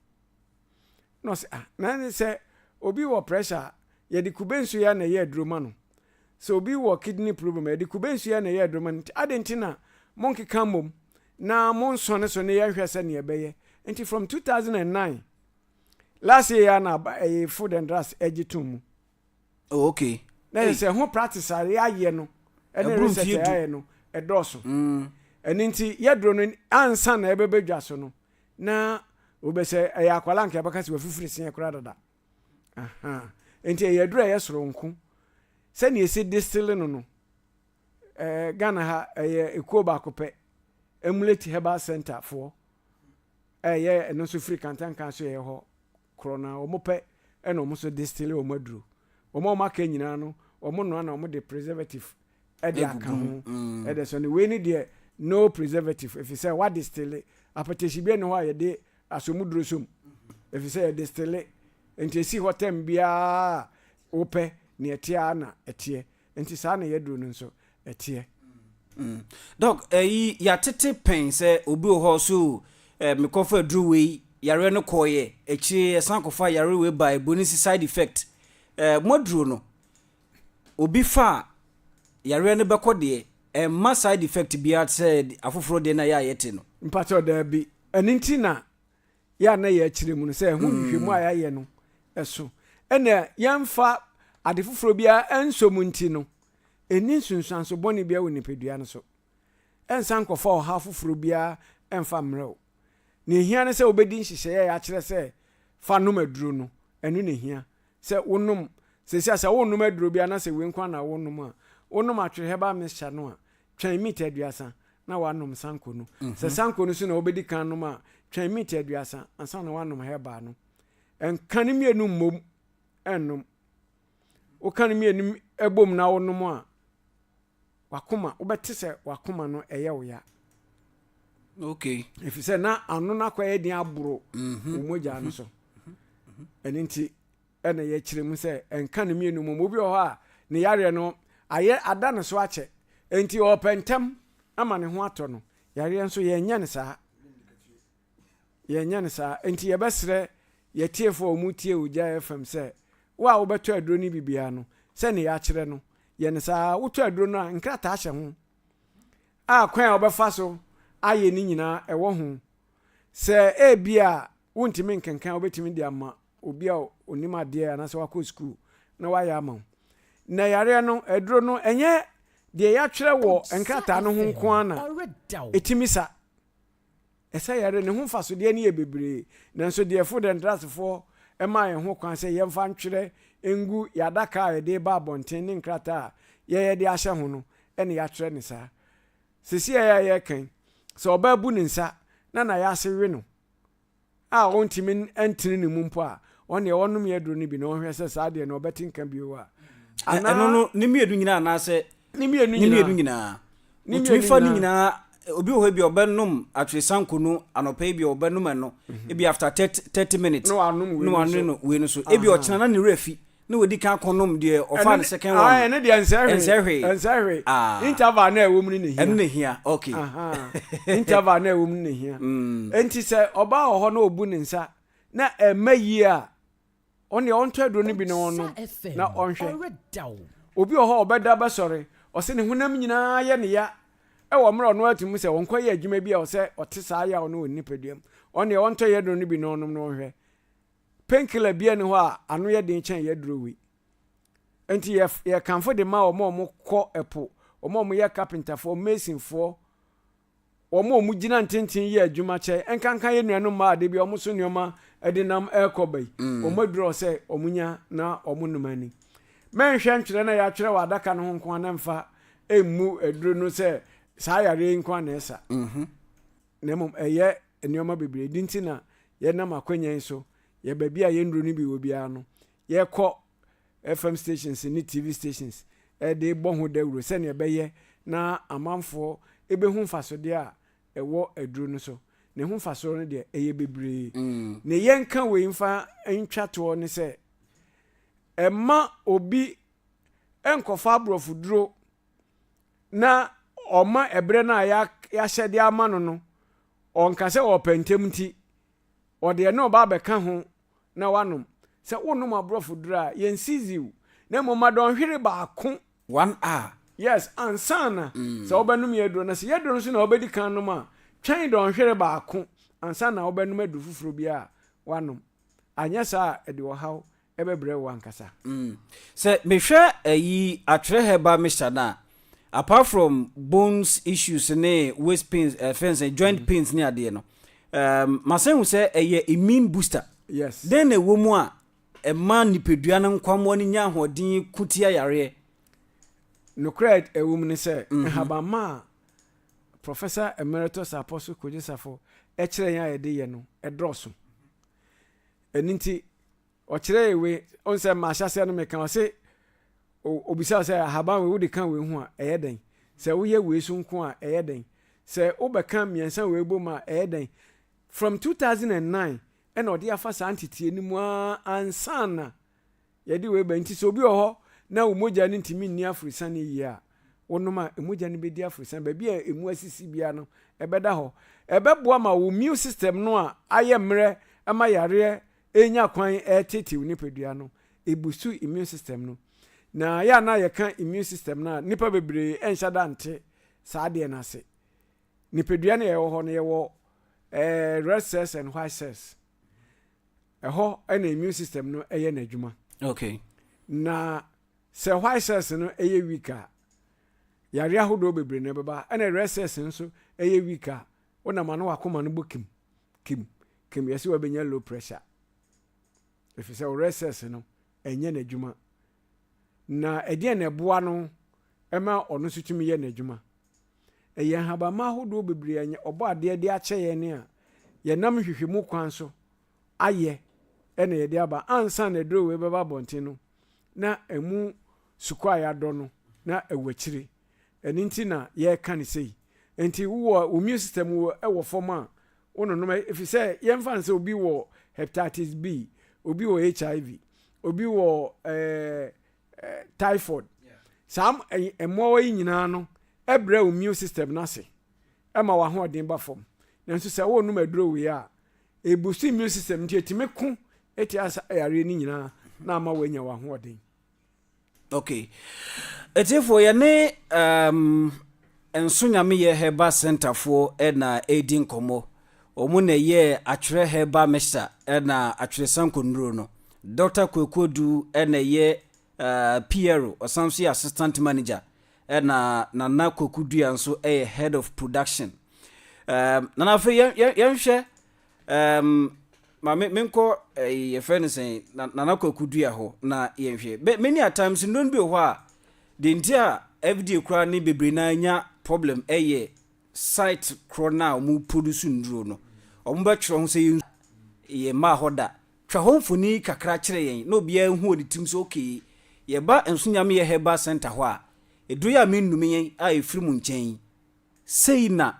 Na ɔse ah na ne sɛ obi wɔ pressure a yɛde kube nsuo ya na ɛyɛ aduro ma no. Sɛ obi wɔ kidney problem a yɛde kube nsuo ya na ɛyɛ aduro ma no. Nti adɛn nti na monkeka mmom na monsɔ ne so ne yɛnhwɛ sɛdeɛ ɛbɛyɛ. Nti from 2009 last year yi ara na aba ɛyɛ food and drugs ɛgye tom mu. Oh okay. Na yɛ sɛ ho practice a yɛayɛ no ɛne research a yɛayɛ no ɛdɔɔso. Mm. Ɛno nti yɛduro no ansa na ɛbɛbɛ dwa so no na wobɛsɛ ɛyɛ akwala nka ɛbɛka sɛ wafifiri seɛ koraa dada. Aha. Nti ɛyɛ aduro a ɛyɛ soronko. Sɛnea ɛsi distille no no eh, Ghana ha ɛyɛ ekuo baako pɛ Emulate Herbal Center foɔ ɛyɛ ɛno nso firi kantankan so yɛ hɔ korɔ no ara, wɔpɛ na wɔn nso distille wɔn aduro. Wɔn a wɔaka nyinaa no, wɔnoa na wɔde preservative de aka ho. Ɛde sɔ no. Wei no deɛ, no preservative, ɛfiri sɛ wɔadistille. Apɛtɛsi biara nni hɔ a yɛde asɔmuduro sɔ mu, ɛfiri sɛ yɛdistille. Enti ɛsi hɔ tɛm biara a wopɛ, deɛ ɛteɛ ara na ɛteɛ. Nti saa na yaduro no nso ɛteɛ. Mm doc ɛyi yatete pɛn sɛ obi wɔ hɔ so eh, mekɔ fa aduro wei yareɛ no kɔɔyɛ akyire yɛsan kɔ fa yareɛ wei ba ɛburo no si side effect eh, mo aduro no obi fa yareɛ no bɛkɔ deɛ ɛmma side effect biara sɛ afoforɔ deɛ na yɛ a yɛte no. mpakyɛ ɔdaa bi ɛno nti na yɛ a na yɛkyerɛ mu no sɛ ɛho nhwehwɛmu a mm. yɛayɛ no ɛso ɛna yɛmfa ade foforɔ biara ɛnsɔ mu nti no ɛni nsunsuanso bɔne biara wɔ nipadua no so ɛnsa nkɔfa ɔha foforɔ biara ɛmfa mmerɛ wo na ɛhia no sɛ wobɛdi nhyehyɛeɛ a yɛakyerɛ sɛ fa nom aduro no ɛno na ɛhia sɛ wonom sɛsi a sɛ wonom aduro biara na sɛ wei nkwa na wonom a wonom atwerɛ herbal mixture no a twɛn mita aduasa na wanom sanko no. Mm -hmm. Sɛ sanko no so na wobɛdi kan nom a, twɛn mita aduasa ansa na wanom herbal no. Nka ne mmienu mmom nnom. Woka ne mmienu bom na wonom a, wakoma, wobɛte sɛ wakoma no ɛyɛ wo ya. Okay. Ɛfiri sɛ na ano no akɔyɛ den aboro mm -hmm. wo mogya no so. Mm -hmm. Ɛno nti na yɛkyerɛ mu sɛ ɛnka no mmienu mmom. Obi wɔ hɔ a, ne yareɛ no ayɛ ada ne so akyɛ, enti ɔrepɛ ntɛm ama ne ho atɔ no. Yareɛ nso, yɛnyɛ no saa. Yɛnyɛ no saa. Enti yɛbɛsrɛ yɛtiefoɔ a wɔtie Ogya FM sɛ, wo a wobɛtɔ aduro no bi biara no, sɛdeɛ yɛakyerɛ no, yɛ no saa ara. Wotɔ aduro no a, nkrataa hyɛ ho a kwan a wobɛfa so ayɛ no nyinaa wɔ ho. Sɛ ebia wontumi nkenkan a, wobɛtumi de ama obi a onim adeɛ anaasɛ wakɔ sukuu na wayɛ ama wo na yareɛ no aduro no ɛnyɛ deɛ yɛatwerɛ wɔ nkrataa no ho nko ara na ɛtumi sa ɛsɛ yɛre ne ho mfasodeɛ no yɛ bebree nanso deɛ fo dɛntrasefoɔ ɛma yɛn ho kwan sɛ yɛmfa ntwerɛ ngu yɛadaka a yɛde ba abɔnten ne nkrataa a yɛyɛ de ahyɛ ho no ɛne yɛatwerɛ ne saa sisi a yɛyɛ kan sɛ ɔbaa bu ne nsa na na yɛase we no a ɔntumi ntene ne mu mpo a, ɔneɛ ɔnome aduro no bi na ɔnhwɛ sɛ saa deɛ no ɔbɛte nka bio a. Anaa. Ɛno no, ne mmienu nyinaa anaasɛ. Ne mmienu nyinaa. Ne mmienu nyinaa. Ne mmienu nyinaa. Wotumi fa ne nyinaa obi wɔ hɔ ebi ɔbɛnom atweresanko no anɔpa ebi ɔbɛnom ɛno mhm. ebi after thirty thirty minutes na wanom wei no so wei no so ebi ɔkyena na ne werɛ fi Na wadi kan akɔ nom deɛ ɔfaa no second one no. Ɛno deɛ ɛnsɛ hwee. Ɛnsɛ hwee. Ɛnsɛ hwee. Ah. Interval na ɛwɔ mu no na ehia. Ɛno na ehia. Okay. Ahaa. Interval na ɛwɔ mu no na ehia. Enti sɛ ɔbaa wɔ hɔ na obu ne nsa na ɛmma yie a, ɔno deɛ ɔntɔ aduro no bi na ɔnnom na ɔnhwɛ. Obi wɔ hɔ a ɔbɛda bɛsɔre, ɔsɛ ne honam nyinaa yɛ ne ya wɔ mmerɛ a ɔno ara te mu sɛ ɔnkɔyɛ adwuma bi a ɔsɛ ɔte saa yaw no wɔ ne nipadua mu. Ɔno deɛ ɔntɔ yɛ aduro no bi na ɔnnom na ɔnhwɛ. Pain killer biaa nni hɔ a ano yɛ den kyɛn y'aduro wei. Nti yɛ yɛ kanfo de ma wɔn a wɔn kɔ ɛpo, wɔn a wɔn yɛ carpenter foɔ, mason foɔ, wɔn a wɔn gyina ntenten yɛ adwuma kyɛ nkanka yɛ nuanom mmaa a da biaa wɔn so nneɛma ɛde nam ɛɛkɔ ba yi. Wɔn aduro a ɔsɛ wɔn nya na wɔn nom ani. Mɛ nhwɛ ntwerɛ na y'atwerɛ wɔ adaka no ho nko a na mfa ɛmmu aduro no sɛ saa yareɛ yi nko a na ɛsa. na mmom ɛyɛ nneɛma bebree. Ɛno nti na yɛnam akwannya yi so, yɛ baabi a yɛn nnuro no bi wɔ biara no, yɛkɔ FM stations ne TV stations de bɔ ho dawuro sɛnea ɛbɛyɛ na amanfoɔ bɛhu mfasodeɛ a ɛwɔ aduro no so. Ne ho mfasoɔ no deɛ, ɛyɛ bebree. Ne yɛnka wei mfa ntwa toɔ ne sɛ, ɛmma obi nkɔfa aborɔfoduro na ɔma ɛberɛ no a yɛahyɛ de ama no no, ɔnka sɛ ɔrepɛ ntɛm nti, ɔde ɛno reba abɛka ho na wanom. Sɛ wonom aborɔfoduro a, yɛ nsiziw, na mmom ma dɔnhwere baako. One a. Yes, ansa na sɛ wobɛnom yɛn aduro no. Sɛ yɛn aduro no nso na wobɛdi kan anom a, twɛn dɔnhwere baako ansa na wobɛnom aduro foforɔ biara a woanom. Anyɛ saa a, ɛde ɔhaw bɛbrɛ wo ankasa. Mm. Sɛ mehwɛ ayi atwerɛ herbal mixture no a, apart from bones issues ne waist pains, eh, fɛn sɛ joint mm. pains ne adeɛ no, um, masan hu sɛ ɛyɛ immune booster. Yes. Dɛn na ɛwɔ mu a ɛma nipadua no nkwammoa no nya ahoɔden ko tia yareɛ? Nokorɛ ɛwɔ mu ne sɛ, mm -hmm. nhabamma a Professor Emeritus Apostle Kojesafo ɛkyerɛ yɛn a yɛde yɛ no ɛdɔɔso. Ɛno nti, ɔkyerɛɛ wei, ɔn sɛ mahyɛaseɛ no meka, ɔse obisa wo sɛ ahaban wei wode ka wei ho a ɛyɛ dɛn? Sɛ woyɛ wei so nko a ɛyɛ dɛn? Sɛ wobɛka mmiɛnsa wei bom a ɛyɛ dɛn? From 2009 ɛna ɔde afa saa nteteɛ no mu ara ansa na. yɛde wei ba nti sɛ obi wɔ hɔ na wo mogya no ntumi nni aforosiane yie a, wonom a, mogya no bɛdi aforosiane. Baabi a emu asisi biara no, ɛbɛda hɔ. Ɛbɛboa ma wo immune system no a ayɛ mmerɛ ma yareɛ renya kwan reteetee wo nipadua no, ɛbusu immune system no. Na yɛ a na yɛka immune system no a, nnipa bebree nhyɛ da nte saa adeɛ no ase. Nipadua no a ɛwɔ hɔ no, yɛwɔ eh, red cells and white cells. ɛhɔ na immune system no yɛ n'adwuma okay na sɛ white cells no yɛ weak a yare ahodoɔ bebree na ɛbɛba ɛna red cells no nso yɛ weak a wonam ano wakoma no bɔ kim kim kim yɛsɛ wabɛnya low pressure ɛfiri sɛ wo red cells no ɛnyɛ n'adwuma na ɛdeɛn na ɛboa no ma ɔno nso tumi yɛ n'adwuma? Ɛyɛ nhabamma ahodoɔ bebree a Ɔbɔadeɛ de akyɛ yɛn a yɛnam nhwehwɛmu kwan so ayɛ na yɛde aba. Ansa na aduro wei bɛba abɔnten no, na ɛmu sukɔ a yɛadɔ no, na ɛwɔ akyire. Ɛno nti na yɛreka no sei. Nti wowɔ wo immune system wɔ fam a, wononom ɛfiri sɛ yɛmfa no sɛ obi wɔ hepatitis B, obi wɔ HIV, obi wɔ eh, eh, typhoid. Saa mmoawa yi nyinaa no ɛbrɛ wo immune system no ase ɛma w'ahoɔden ba fam. Nanso sɛ wonom aduro wei a, ebusu immune system nti etumi ko ɛtia yareɛ no nyinaa na ama wanya w'ahoɔden. Ok atiefoɔ yɛne um, Nso Nyameyɛ Herbal Center foɔ na ɛredi nkɔmmɔ. Wɔn na ɛyɛɛ atwerɛ herbal mixture ɛna atwerɛ sanko nnuro no. Dr. Kwakuodu na ɛyɛ uh, Piero, ɔsan nso yɛ assistant manager ɛna Nana Kwaku Dua nso yɛ head of production. Um, Nana afei yɛnhwɛ Ɛɛm ma me menkɔ ɛyi yɛfrɛ no sɛn na nana kwaku dua hɔ na yɛnhwɛ bɛ many a times nnuro no bi wɔ hɔ a deɛ nti a FDA koraa ne bebree naa nya problem ɛyɛ site korɔ no a wɔn produce nnuro no wɔn bɛtwerɛ ho sɛ yɛn yɛ mmaa hɔ da twa hɔ mfoni kakra kyerɛ yɛn na obiara hu wɔ ne tirim sɛ okay yɛba nso nyame yɛ herbal center hɔ a eduro yɛ a mennum yɛn a efiri mu nkyɛn yi. Sei na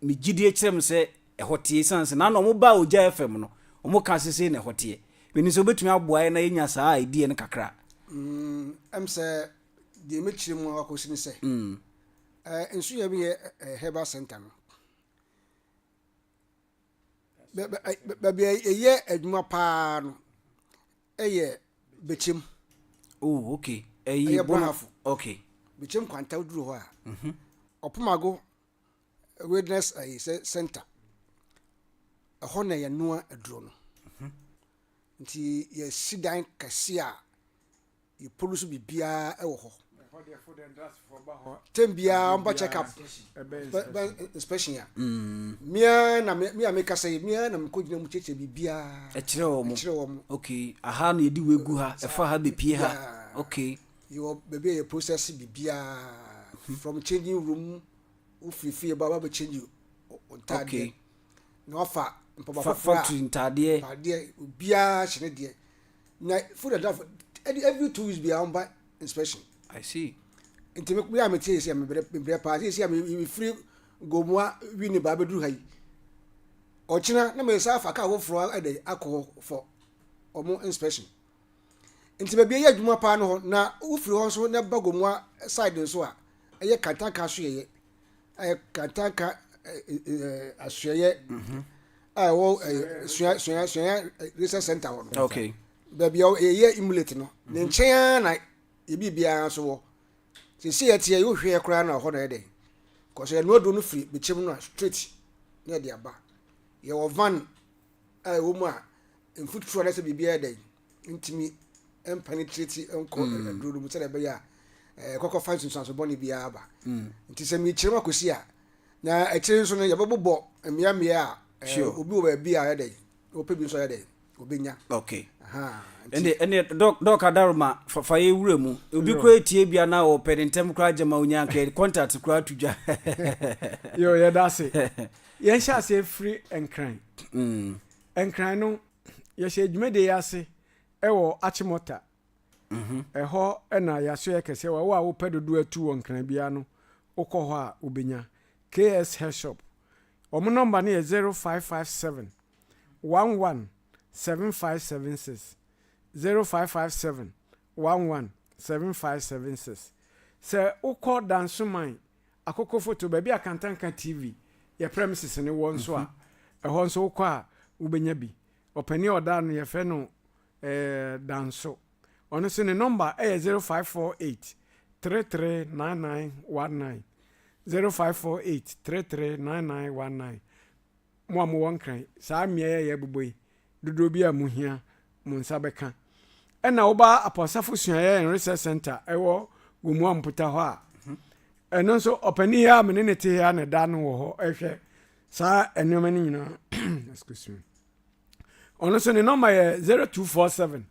me gyidie kyerɛ me sɛ ɛhɔ teɛ, ɛsiane sɛ na na wɔbaa ogya yɛ fam no, wɔka sɛ sei na ɛhɔ teɛ. Menim sɛ wobɛtumi aboa yɛn na yɛanya saa a idea no kakra. Mm, ɛm sɛ deɛ mɛkyerɛ mu ara kɔsi ne sɛ, eh, nso yɛ bɛyɛ eh, Herbal Center no. Bɛ bɛ ɛ baabi a yɛyɛ adwuma pa ara no yɛ Bɛkyɛm. Oh, ok. Ɛyi Ɛyɛ Bono- Brahafo. Ok. Bɛkyɛm kwanta woduru hɔ a. Ɔpomago Wilderness ayi sɛ Center. Ɛhɔ na yɛnoa aduro no. Nti yɛasi dan kɛse a Yɛponu so biribiara wɔ hɔ. Ɛhɔ deɛ fo dɛn drasfoɔ ba hɔ. Tɛm biara ɔmba check up. Bɛ inspection ya. Mia na mia me kasa yi mia na mekɔ gyina mu kyerɛkyerɛ biribiara. Ɛkyerɛ wɔn. Ɛkyerɛ wɔn. Okay. Aha na yɛde wegu ha. Ɛfa ha bepie ha. Okay. Yɛwɔ baabi a yɛ process biribiara. From changing room wofiri fie ba wabɛ change ntaadeɛ. Okay. Na wafa mpaboa foforɔ a. Factory ntaadeɛ. Ntaadeɛ obiara hyɛ ne deɛ. na food and drug ɛdi every two weeks biara ɔmba inspection. i see. nti mi mi a mi ti yɛ si a mi brɛ mi brɛ paa si a mi mi firi gomua wi ne baa bɛ duru ha yi ɔkyina na mi sa afa kaa foforɔ ɛdɛ akɔ hɔ for ɔmo inspection nti baabi yɛ adwuma paa no hɔ na wofiri hɔ nso na ba gomua side nso a ɛyɛ kantanka so yɛyɛ ɛyɛ kantanka asoɛyɛ a ɛwɔ sua sua sua research center hɔ no okay baabi a yɛyɛ emulate no ne mm-hmm. nkyɛn ara na ebi biara nso wɔ sisi yɛ teɛ yóò hwɛ koraa na ɔhɔ na yɛ dɛ kɔsɛ ɛnu aduro no firi bikyɛm no a straight na yɛ de aba yɛwɔ van a ɛwɔ mu a mfutuo anasɛ biribi yɛ dɛ ntumi mpenetrate nkɔ mm. aduro no mu sɛdeɛ ɛbɛyɛ a eh, ɛkɔkɔ fa nsunsuanso bɔne biara ba mm. nti sɛ mekyerɛm akɔsi a na akyire nso no yɛbɛbobɔ mmeammea a eh, obi wɔ baabi a yɛdɛ ɔpɛ bi nso yɛdɛ obɛnya okay ɛne ɛne dɔk adaroma fafa yɛ wura mu obi kura etie bia na ɔpɛ ne ntɛm kura gyama onya nkɛ contact kura ato dwa yɛ yɛda ase yɛnhyɛ aseɛ firi nkran mm. nkran no yɛhyɛɛ dwumadie yi ase wɔ Achimota. Mhm. Ɛhɔ na yɛasoɛ kɛseɛ wɔ wo a wopɛ dodoɔ atu wɔ Nkran biara no, wokɔ hɔ a wobɛnya. KS Hair Shop. Wɔn nɔmba no yɛ 0557 11 7576, 0557 11 7576. Sɛ wokɔ Dansoman Akokofoto, baabi a Kantanka TV yɛ premises no wɔ nso a, ɛhɔ nso wokɔ a wobɛnya bi. Ɔpanin a ɔda no yɛfrɛ no Danso. Ɔno nso ne nɔmba yɛ 0548 339919, 0548 339919. Mo a mowɔ Nkran, saa mmeae a yɛrebobɔ yi, dodoɔ biara a mohia, mo nsa bɛka. Ɛna woba Apɔsafo Suaeɛ and Research Center ɛwɔ Gomoa Mputa hɔ a, ɛno nso ɔpanin yi a me ne ne te ha na ɛda no wɔ hɔ ɛhwɛ saa nneɛma no nyinaa. Excuse me. Ɔno nso ne nɔmba yɛ 0247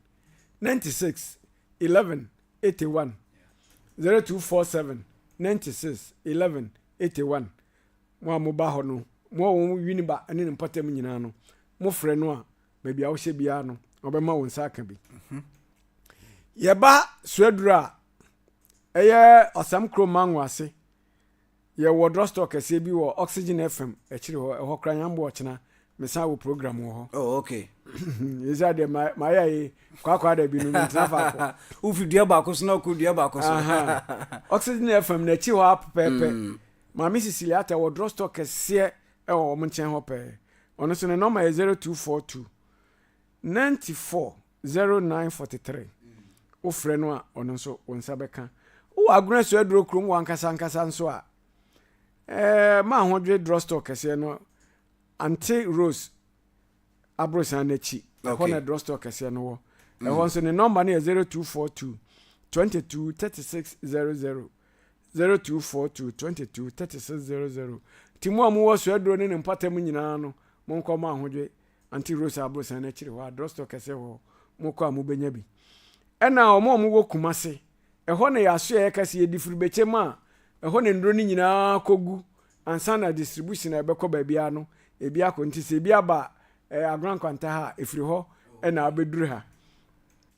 96 11 81 0247 96 11 81 Mo a moba hɔ no, mo a wɔn wi no ba ne ne mpɔtam nyinaa no, mofrɛ no a, baabi a wohyɛ biara no, ɔbɛma wo nsa aka bi. Yɛba Suaduru a ɛyɛ Ɔsɛm Kurom Mango ase. Yɛwɔ drugstore kɛseɛ bi wɔ Oxygen FM akyiri hɔ. Ɛhɔ kora nyambo ɔkyena mesan wɔ program wɔ hɔ. Oh, okay. Yɛsɛ adeɛ mayɛ ye kwaakwa da bi no mentena faako. Wofi dua baako so na wokɔ dua baako so. Oxygen FM n'akyi hɔ apɛpɛɛpɛ. Mm. Maame Siciliata wɔ draw store kɛseɛ wɔ wɔn nkyɛn hɔ pɛɛ. Ɔno nso ne nɔma yɛ 0242 94 0943. Wofrɛ no a ɔno nso wo nsa bɛka. Wowɔ Agunasu aduro kurom wɔ ankasa ankasa nso a, ɛɛ ma ahodwe draw store kɛseɛ no Ante Rose aborosan no akyi. Ɛhɔ na draw store kɛseɛ no wɔ. Ɛhɔ nso ne nɔma no yɛ 0242 22 3600. zero two four two twenty two thirty six zero zero nti mo a mo wɔ soaduro ne ne mpata mu nyinaa no mo nkɔ mo ahodwe anti rosa abosan n'akyiri hɔ a drugstore kɛseɛ wɔ hɔ mo kɔ a mo bɛnya bi ɛna wɔn a wɔn wɔ kumase ɛhɔ na yɛaso yɛ ɛka si yɛ difurubɛkyɛ mu a ɛhɔ na nnuro no nyinaa kɔ gu ansa na distribution a ɛbɛkɔ baabiara no ebi akɔ nti sɛ ebi aba ɛɛ agoran kwanta ha efiri hɔ ɛna abɛduru ha.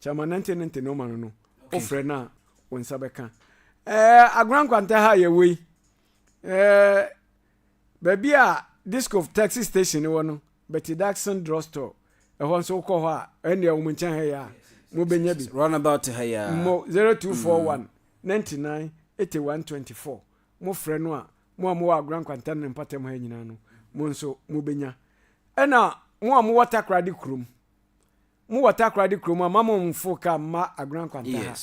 Kyɛma nɛnte nɛnte nɔma no no wo frɛ no a wo nsa bɛka. Ɛɛ Agona Nkwanta ha a yɛwɔ yi ɛɛ baabi a Discof taxi station no wɔ no Betty Daxon drug store ɛhɔ nso wokɔ hɔ a ɛnneɛ wɔn nkyɛn ha yi a mobɛnya bi. Run about ha yi a. Mo zero two four one ninety nine eighty one twenty four mo frɛ no a mo a mowɔ Agona Nkwanta ne ne mpatam ha nyinaa no mo nso mobɛnya. Ɛna mo a mowɔ Takoradi kurom Mo wɔ takoradi kurom a mma mo mforo car mma Agona nkwanta ha.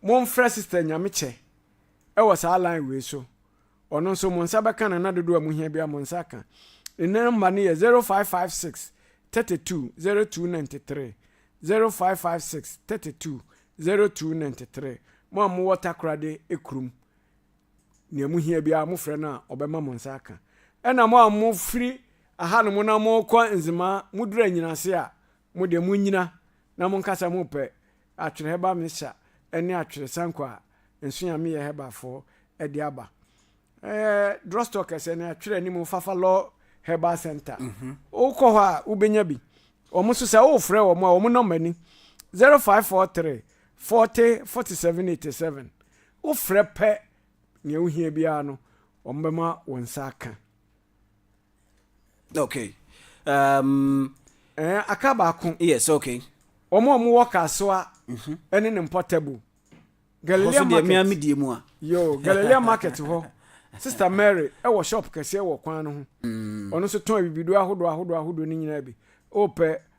Mo mfrɛ sister Nyamekyɛ wɔ saa line wei so. Ɔno nso mo nsa bɛka no na dodoɔ a mohia biara mo nsa aka. Ne number no yɛ zero five five six thirty two zero two ninety three zero five five six thirty two zero two ninety three mo a mo wɔ takoradi kurom nea mo hia biara mofrɛ no a ɔbɛma mo nsa aka. Ɛna mo a mo firi ahanom na mo rekɔ Nzema mo duru Anyinase a mo deɛ mo nyina na mo nkasa mo pɛ Atwere Hɛba Mixture ɛne Atwere Sanku a nso Nyame yɛ Hɛba foɔ ɛde aba ɛɛ Drugstore kɛsɛ ne Atwere anim hɔ Fafa Law Herbal Centre mhm. wo kɔ hɔ a wo bɛnya bi wɔn nso sɛ wo frɛ wɔn a wɔn nɔmba ni 0543 40 47 87 Wofrɛ pɛ nea wohia biara no, wɔbɛma wo nsa aka. Okay. Um, eh, aka baako. Yes, okay. Wɔn a wɔwɔ Kasoa mhm. ne ne mpɔtabu. Galilea Market. Yo, Galilea Market hɔ. Sister Mary wɔ shop kɛseɛ wɔ kwan no ho. Mm. Ɔno nso tɔn bibiduro ahodoɔ ahodoɔ ahodoɔ ne nyinaa bi. Wopɛ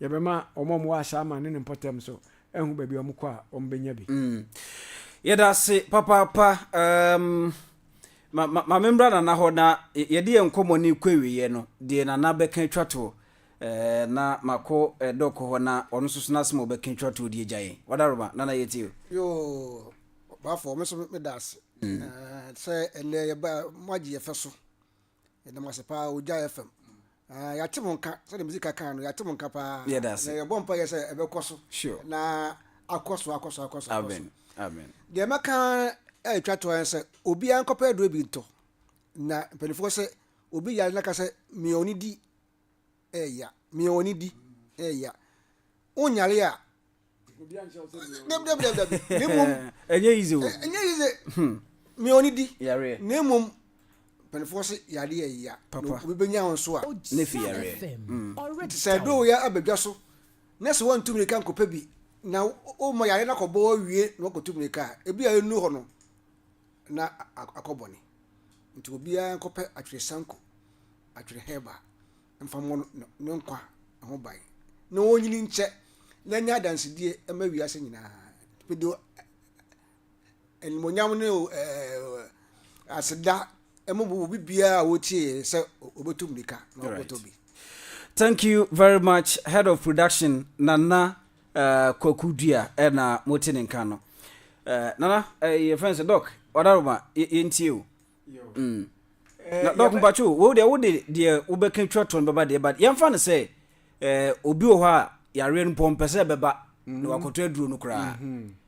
Yɛbɛma wɔn a wɔwɔ Asaa man ne ne mpɔtam nso ahu baabi a wɔkɔ a, wɔbɛnya bi. Yɛda ase papaapa. Um, ma, ma, ma membra Nana hɔ na yɛde yɛn nkɔmmɔ no kɔ awieɛ no, deɛ Nana bɛka atwa toɔ eh, na makɔ eh, dɔkɔ hɔ na ɔno nso so n'asɛm a ɔbɛka atwa toɔ deɛ gya yɛn. Wadaroma, Nana yɛtie o. Yoo, ɔbaafo, me nso meda ase. Mm. Uh, sɛ ɛnɛ yɛba, moagye yɛfɛ so. Yɛda mo ase paa Ogya FM. Ah, yɛate mo nka sɛdeɛ mesi ka kan no yɛate mo nka paa. Yɛda ase. Na yɛbɔ mpa yɛ sɛ ɛbɛkɔ so. Sure. Na akɔ so akɔ so akɔ so akɔ so. Amen. Amen. Deɛ mɛka ɛretwa toɔ yɛn sɛ obiara nkɔpɛ aduro bi ntɔ. Na mpanimfoɔ sɛ obi yare na ka sɛ mia ɔne di ɛɛya mia wɔn ani di ɛɛya wonyare a dabidabidabi na mmom ɛnyɛ yize o ɛnyɛ yize mia wɔn ani di yareɛ na mmom mpanimfoɔ se yareɛ ɛɛya na obi bɛnya wɔn so a ne fi yareɛ nti sɛ ɛdoo yɛ abɛdwa so na sɛ wɔntu mmirika nkɔpɛ bi na woma yareɛ no akɔbɔ awie na wakɔtu mmirika a ebi a ɛnu hɔ no na akɔ bɔne. Nti obiara nkɔpɛ atwerɛ sanku, atwerɛ hɛɛba mfa mmɔ ne nkwa ho ban na ɔnyini nkyɛ na ɛnyɛ adansedie ɛma wiase nyinaa. Mede animonyam ne aseda ɛma obi biara a ɔtie sɛ ɔbɛtu mmirika na ɔkɔtɔ bi. Thank you very much head of production Nana Eh, Kwaku Dua eh, na mote ne nka no. Eh, Nana, eh, yɛfrɛ no sɛ Dɔk, Wadaroma, yɛ- yɛntie o. Mm. Eh, Na Dɔk yɛbɛ- mpatwo, wei deɛ wode deɛ wobɛka twa toɔ no bɛba deɛ, but yɛmfa no sɛ eh, obi wɔ hɔ a yareɛ no mpo ɔmpɛ sɛ ɛbɛba na wakɔtɔ aduro no koraa.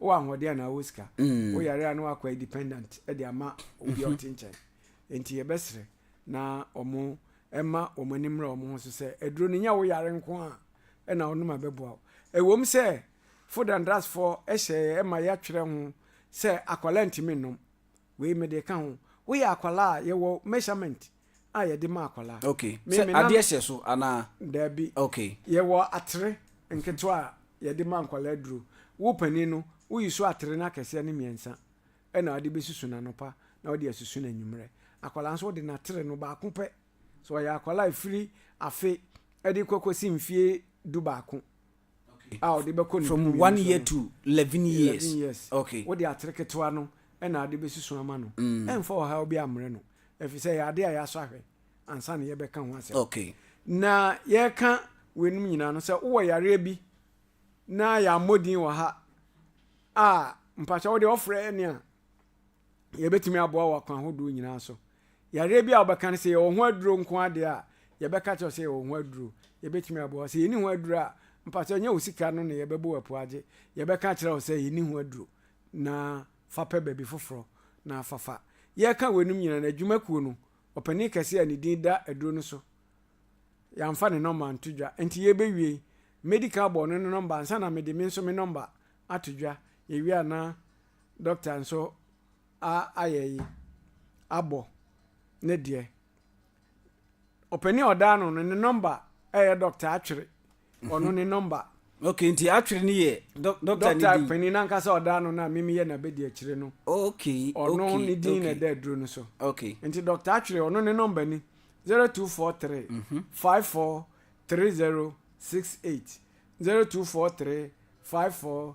wowɔ ahoɔden anaa wowɔ sika mm. woyare a na wakɔ independent de ama obi a mhm. ɔte nkyɛn nti yɛbɛsrɛ na ɔmo ɛma ɔmo ani mmra ɔmo ho so sɛ aduro no nyɛ woyare nko a ɛna wonom abɛboa wo ɛwom sɛ food and drugsfoɔ hyɛ ɛma yɛatwerɛ ho sɛ akwadaa ntumi nnom Wei mede ka ho. Woyɛ akwadaa a, yɛwɔ measurement a yɛde ma akwadaa. Okay. Me, Sɛ me nan- adeɛ hyɛ so anaa? Daabi. Okay. Yɛwɔ atere nketewa a yɛde ma nkwadaa duro. Wo panin no, woyi so atere no akɛseɛ no mmiɛnsa na wode bɛsusu no anɔpa na wode asusu no anwummerɛ. Akwadaa nso wode n'atere no baako pɛ. Sɛ ɔyɛ akwadaa a ɛfiri afe de kɔ kɔsi mfeɛ du baako a ɔde bɛkɔ ne From one year to eleven years. years. Okay. Wode atere ketewa no na ade bɛsusu ama no. Mm. Ɛmfa ɔhaw bi ammrɛ no. Ɛfiri sɛ ɛyɛ ade a yɛasɔ ahwɛ ansa na yɛbɛka ho asɛm. Okay. Na yɛreka weinom nyinaa no sɛ wowɔ yareɛ bi na yɛammɔ din wɔ ha a mpakyɛ wode ɔfrɛ ne a yɛbɛtumi aboa wɔ akwan ahodoɔ nyinaa so. Yareɛ bi a wobɛka no sɛ yɛwɔ ho aduro nko adeɛ a, yɛbɛka kyerɛ sɛ yɛwɔ ho aduro. Yɛbɛtumi aboa sɛ yɛni ho aduro a, mpakyɛ nyɛ wo sika no na yɛbɛbɔ wo apua agye. Yɛbɛka kyerɛ wo sɛ yɛni ho aduro na fa pɛ baabi foforɔ na fafa. Yɛreka weinom nyinaa no, adwuma kuo no, ɔpanin kɛseɛ a ne din da aduro no so, yɛamfa ne nɔmba anto dwa. Nti yɛrebɛwie yi, mɛdi kan abɔ ɔno ne nɔmba ansa na mede me nso me nɔmba ato dwa. Yɛwie a na Dɔkta nso a ayɛ yi abɔ ne deɛ. Ɔpanin a ɔda ano no ne nɔmba ɛyɛ dɔkta atwere ɔno ne nɔmba. ok nti atwere no yɛ dɔkta ne din. dɔkta panin nankasa ɔda ano no a mimi yɛ n'abɛdi akyire no. ok ɔno ne din na ɛda aduro no so. ok nti dɔkta atwere ɔno ne nɔmba ni zero two four three mhm. five four three zero six eight zero two four three five four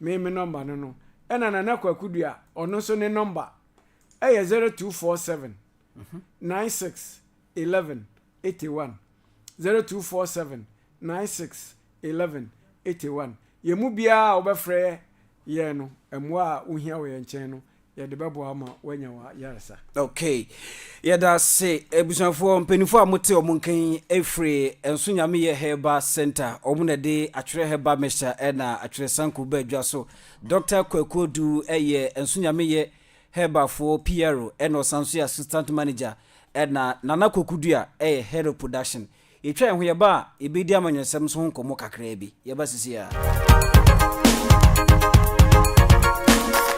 me me nɔmba no no ɛna nana kwaku dua ɔno nso ne nɔmba ɛyɛ zero two four seven nine six eleven eighty one zero two four seven nine six eleven eighty one yɛn mu biara a wɔbɛfrɛ yɛn no mmoa a wohia wɔ yɛn nkyɛn no Yɛde bɛboa wo ma woanya w'ayaresa. Okay. Yɛda ase abusuafoɔ, mpanimfoɔ a mote wɔn nka yi ɛfiri Nso Nyameyɛ Herbal Center, wɔn na de atwerɛ herbal mixture ɛna atwerɛ sanku ba adwa so. Doctor Kwaku Odu ɛyɛ Nso Nyameyɛ Herbal foɔ PRO ɛna ɔsan nso yɛ Assistant Manager ɛna Nana Kwaku Dua ɛyɛ Head of Production. Yɛtwa yɛn ho yɛba a yɛbɛdi amanyɔsɛm nso ho nkɔmmɔ kakraa bi. Yɛba sisi a.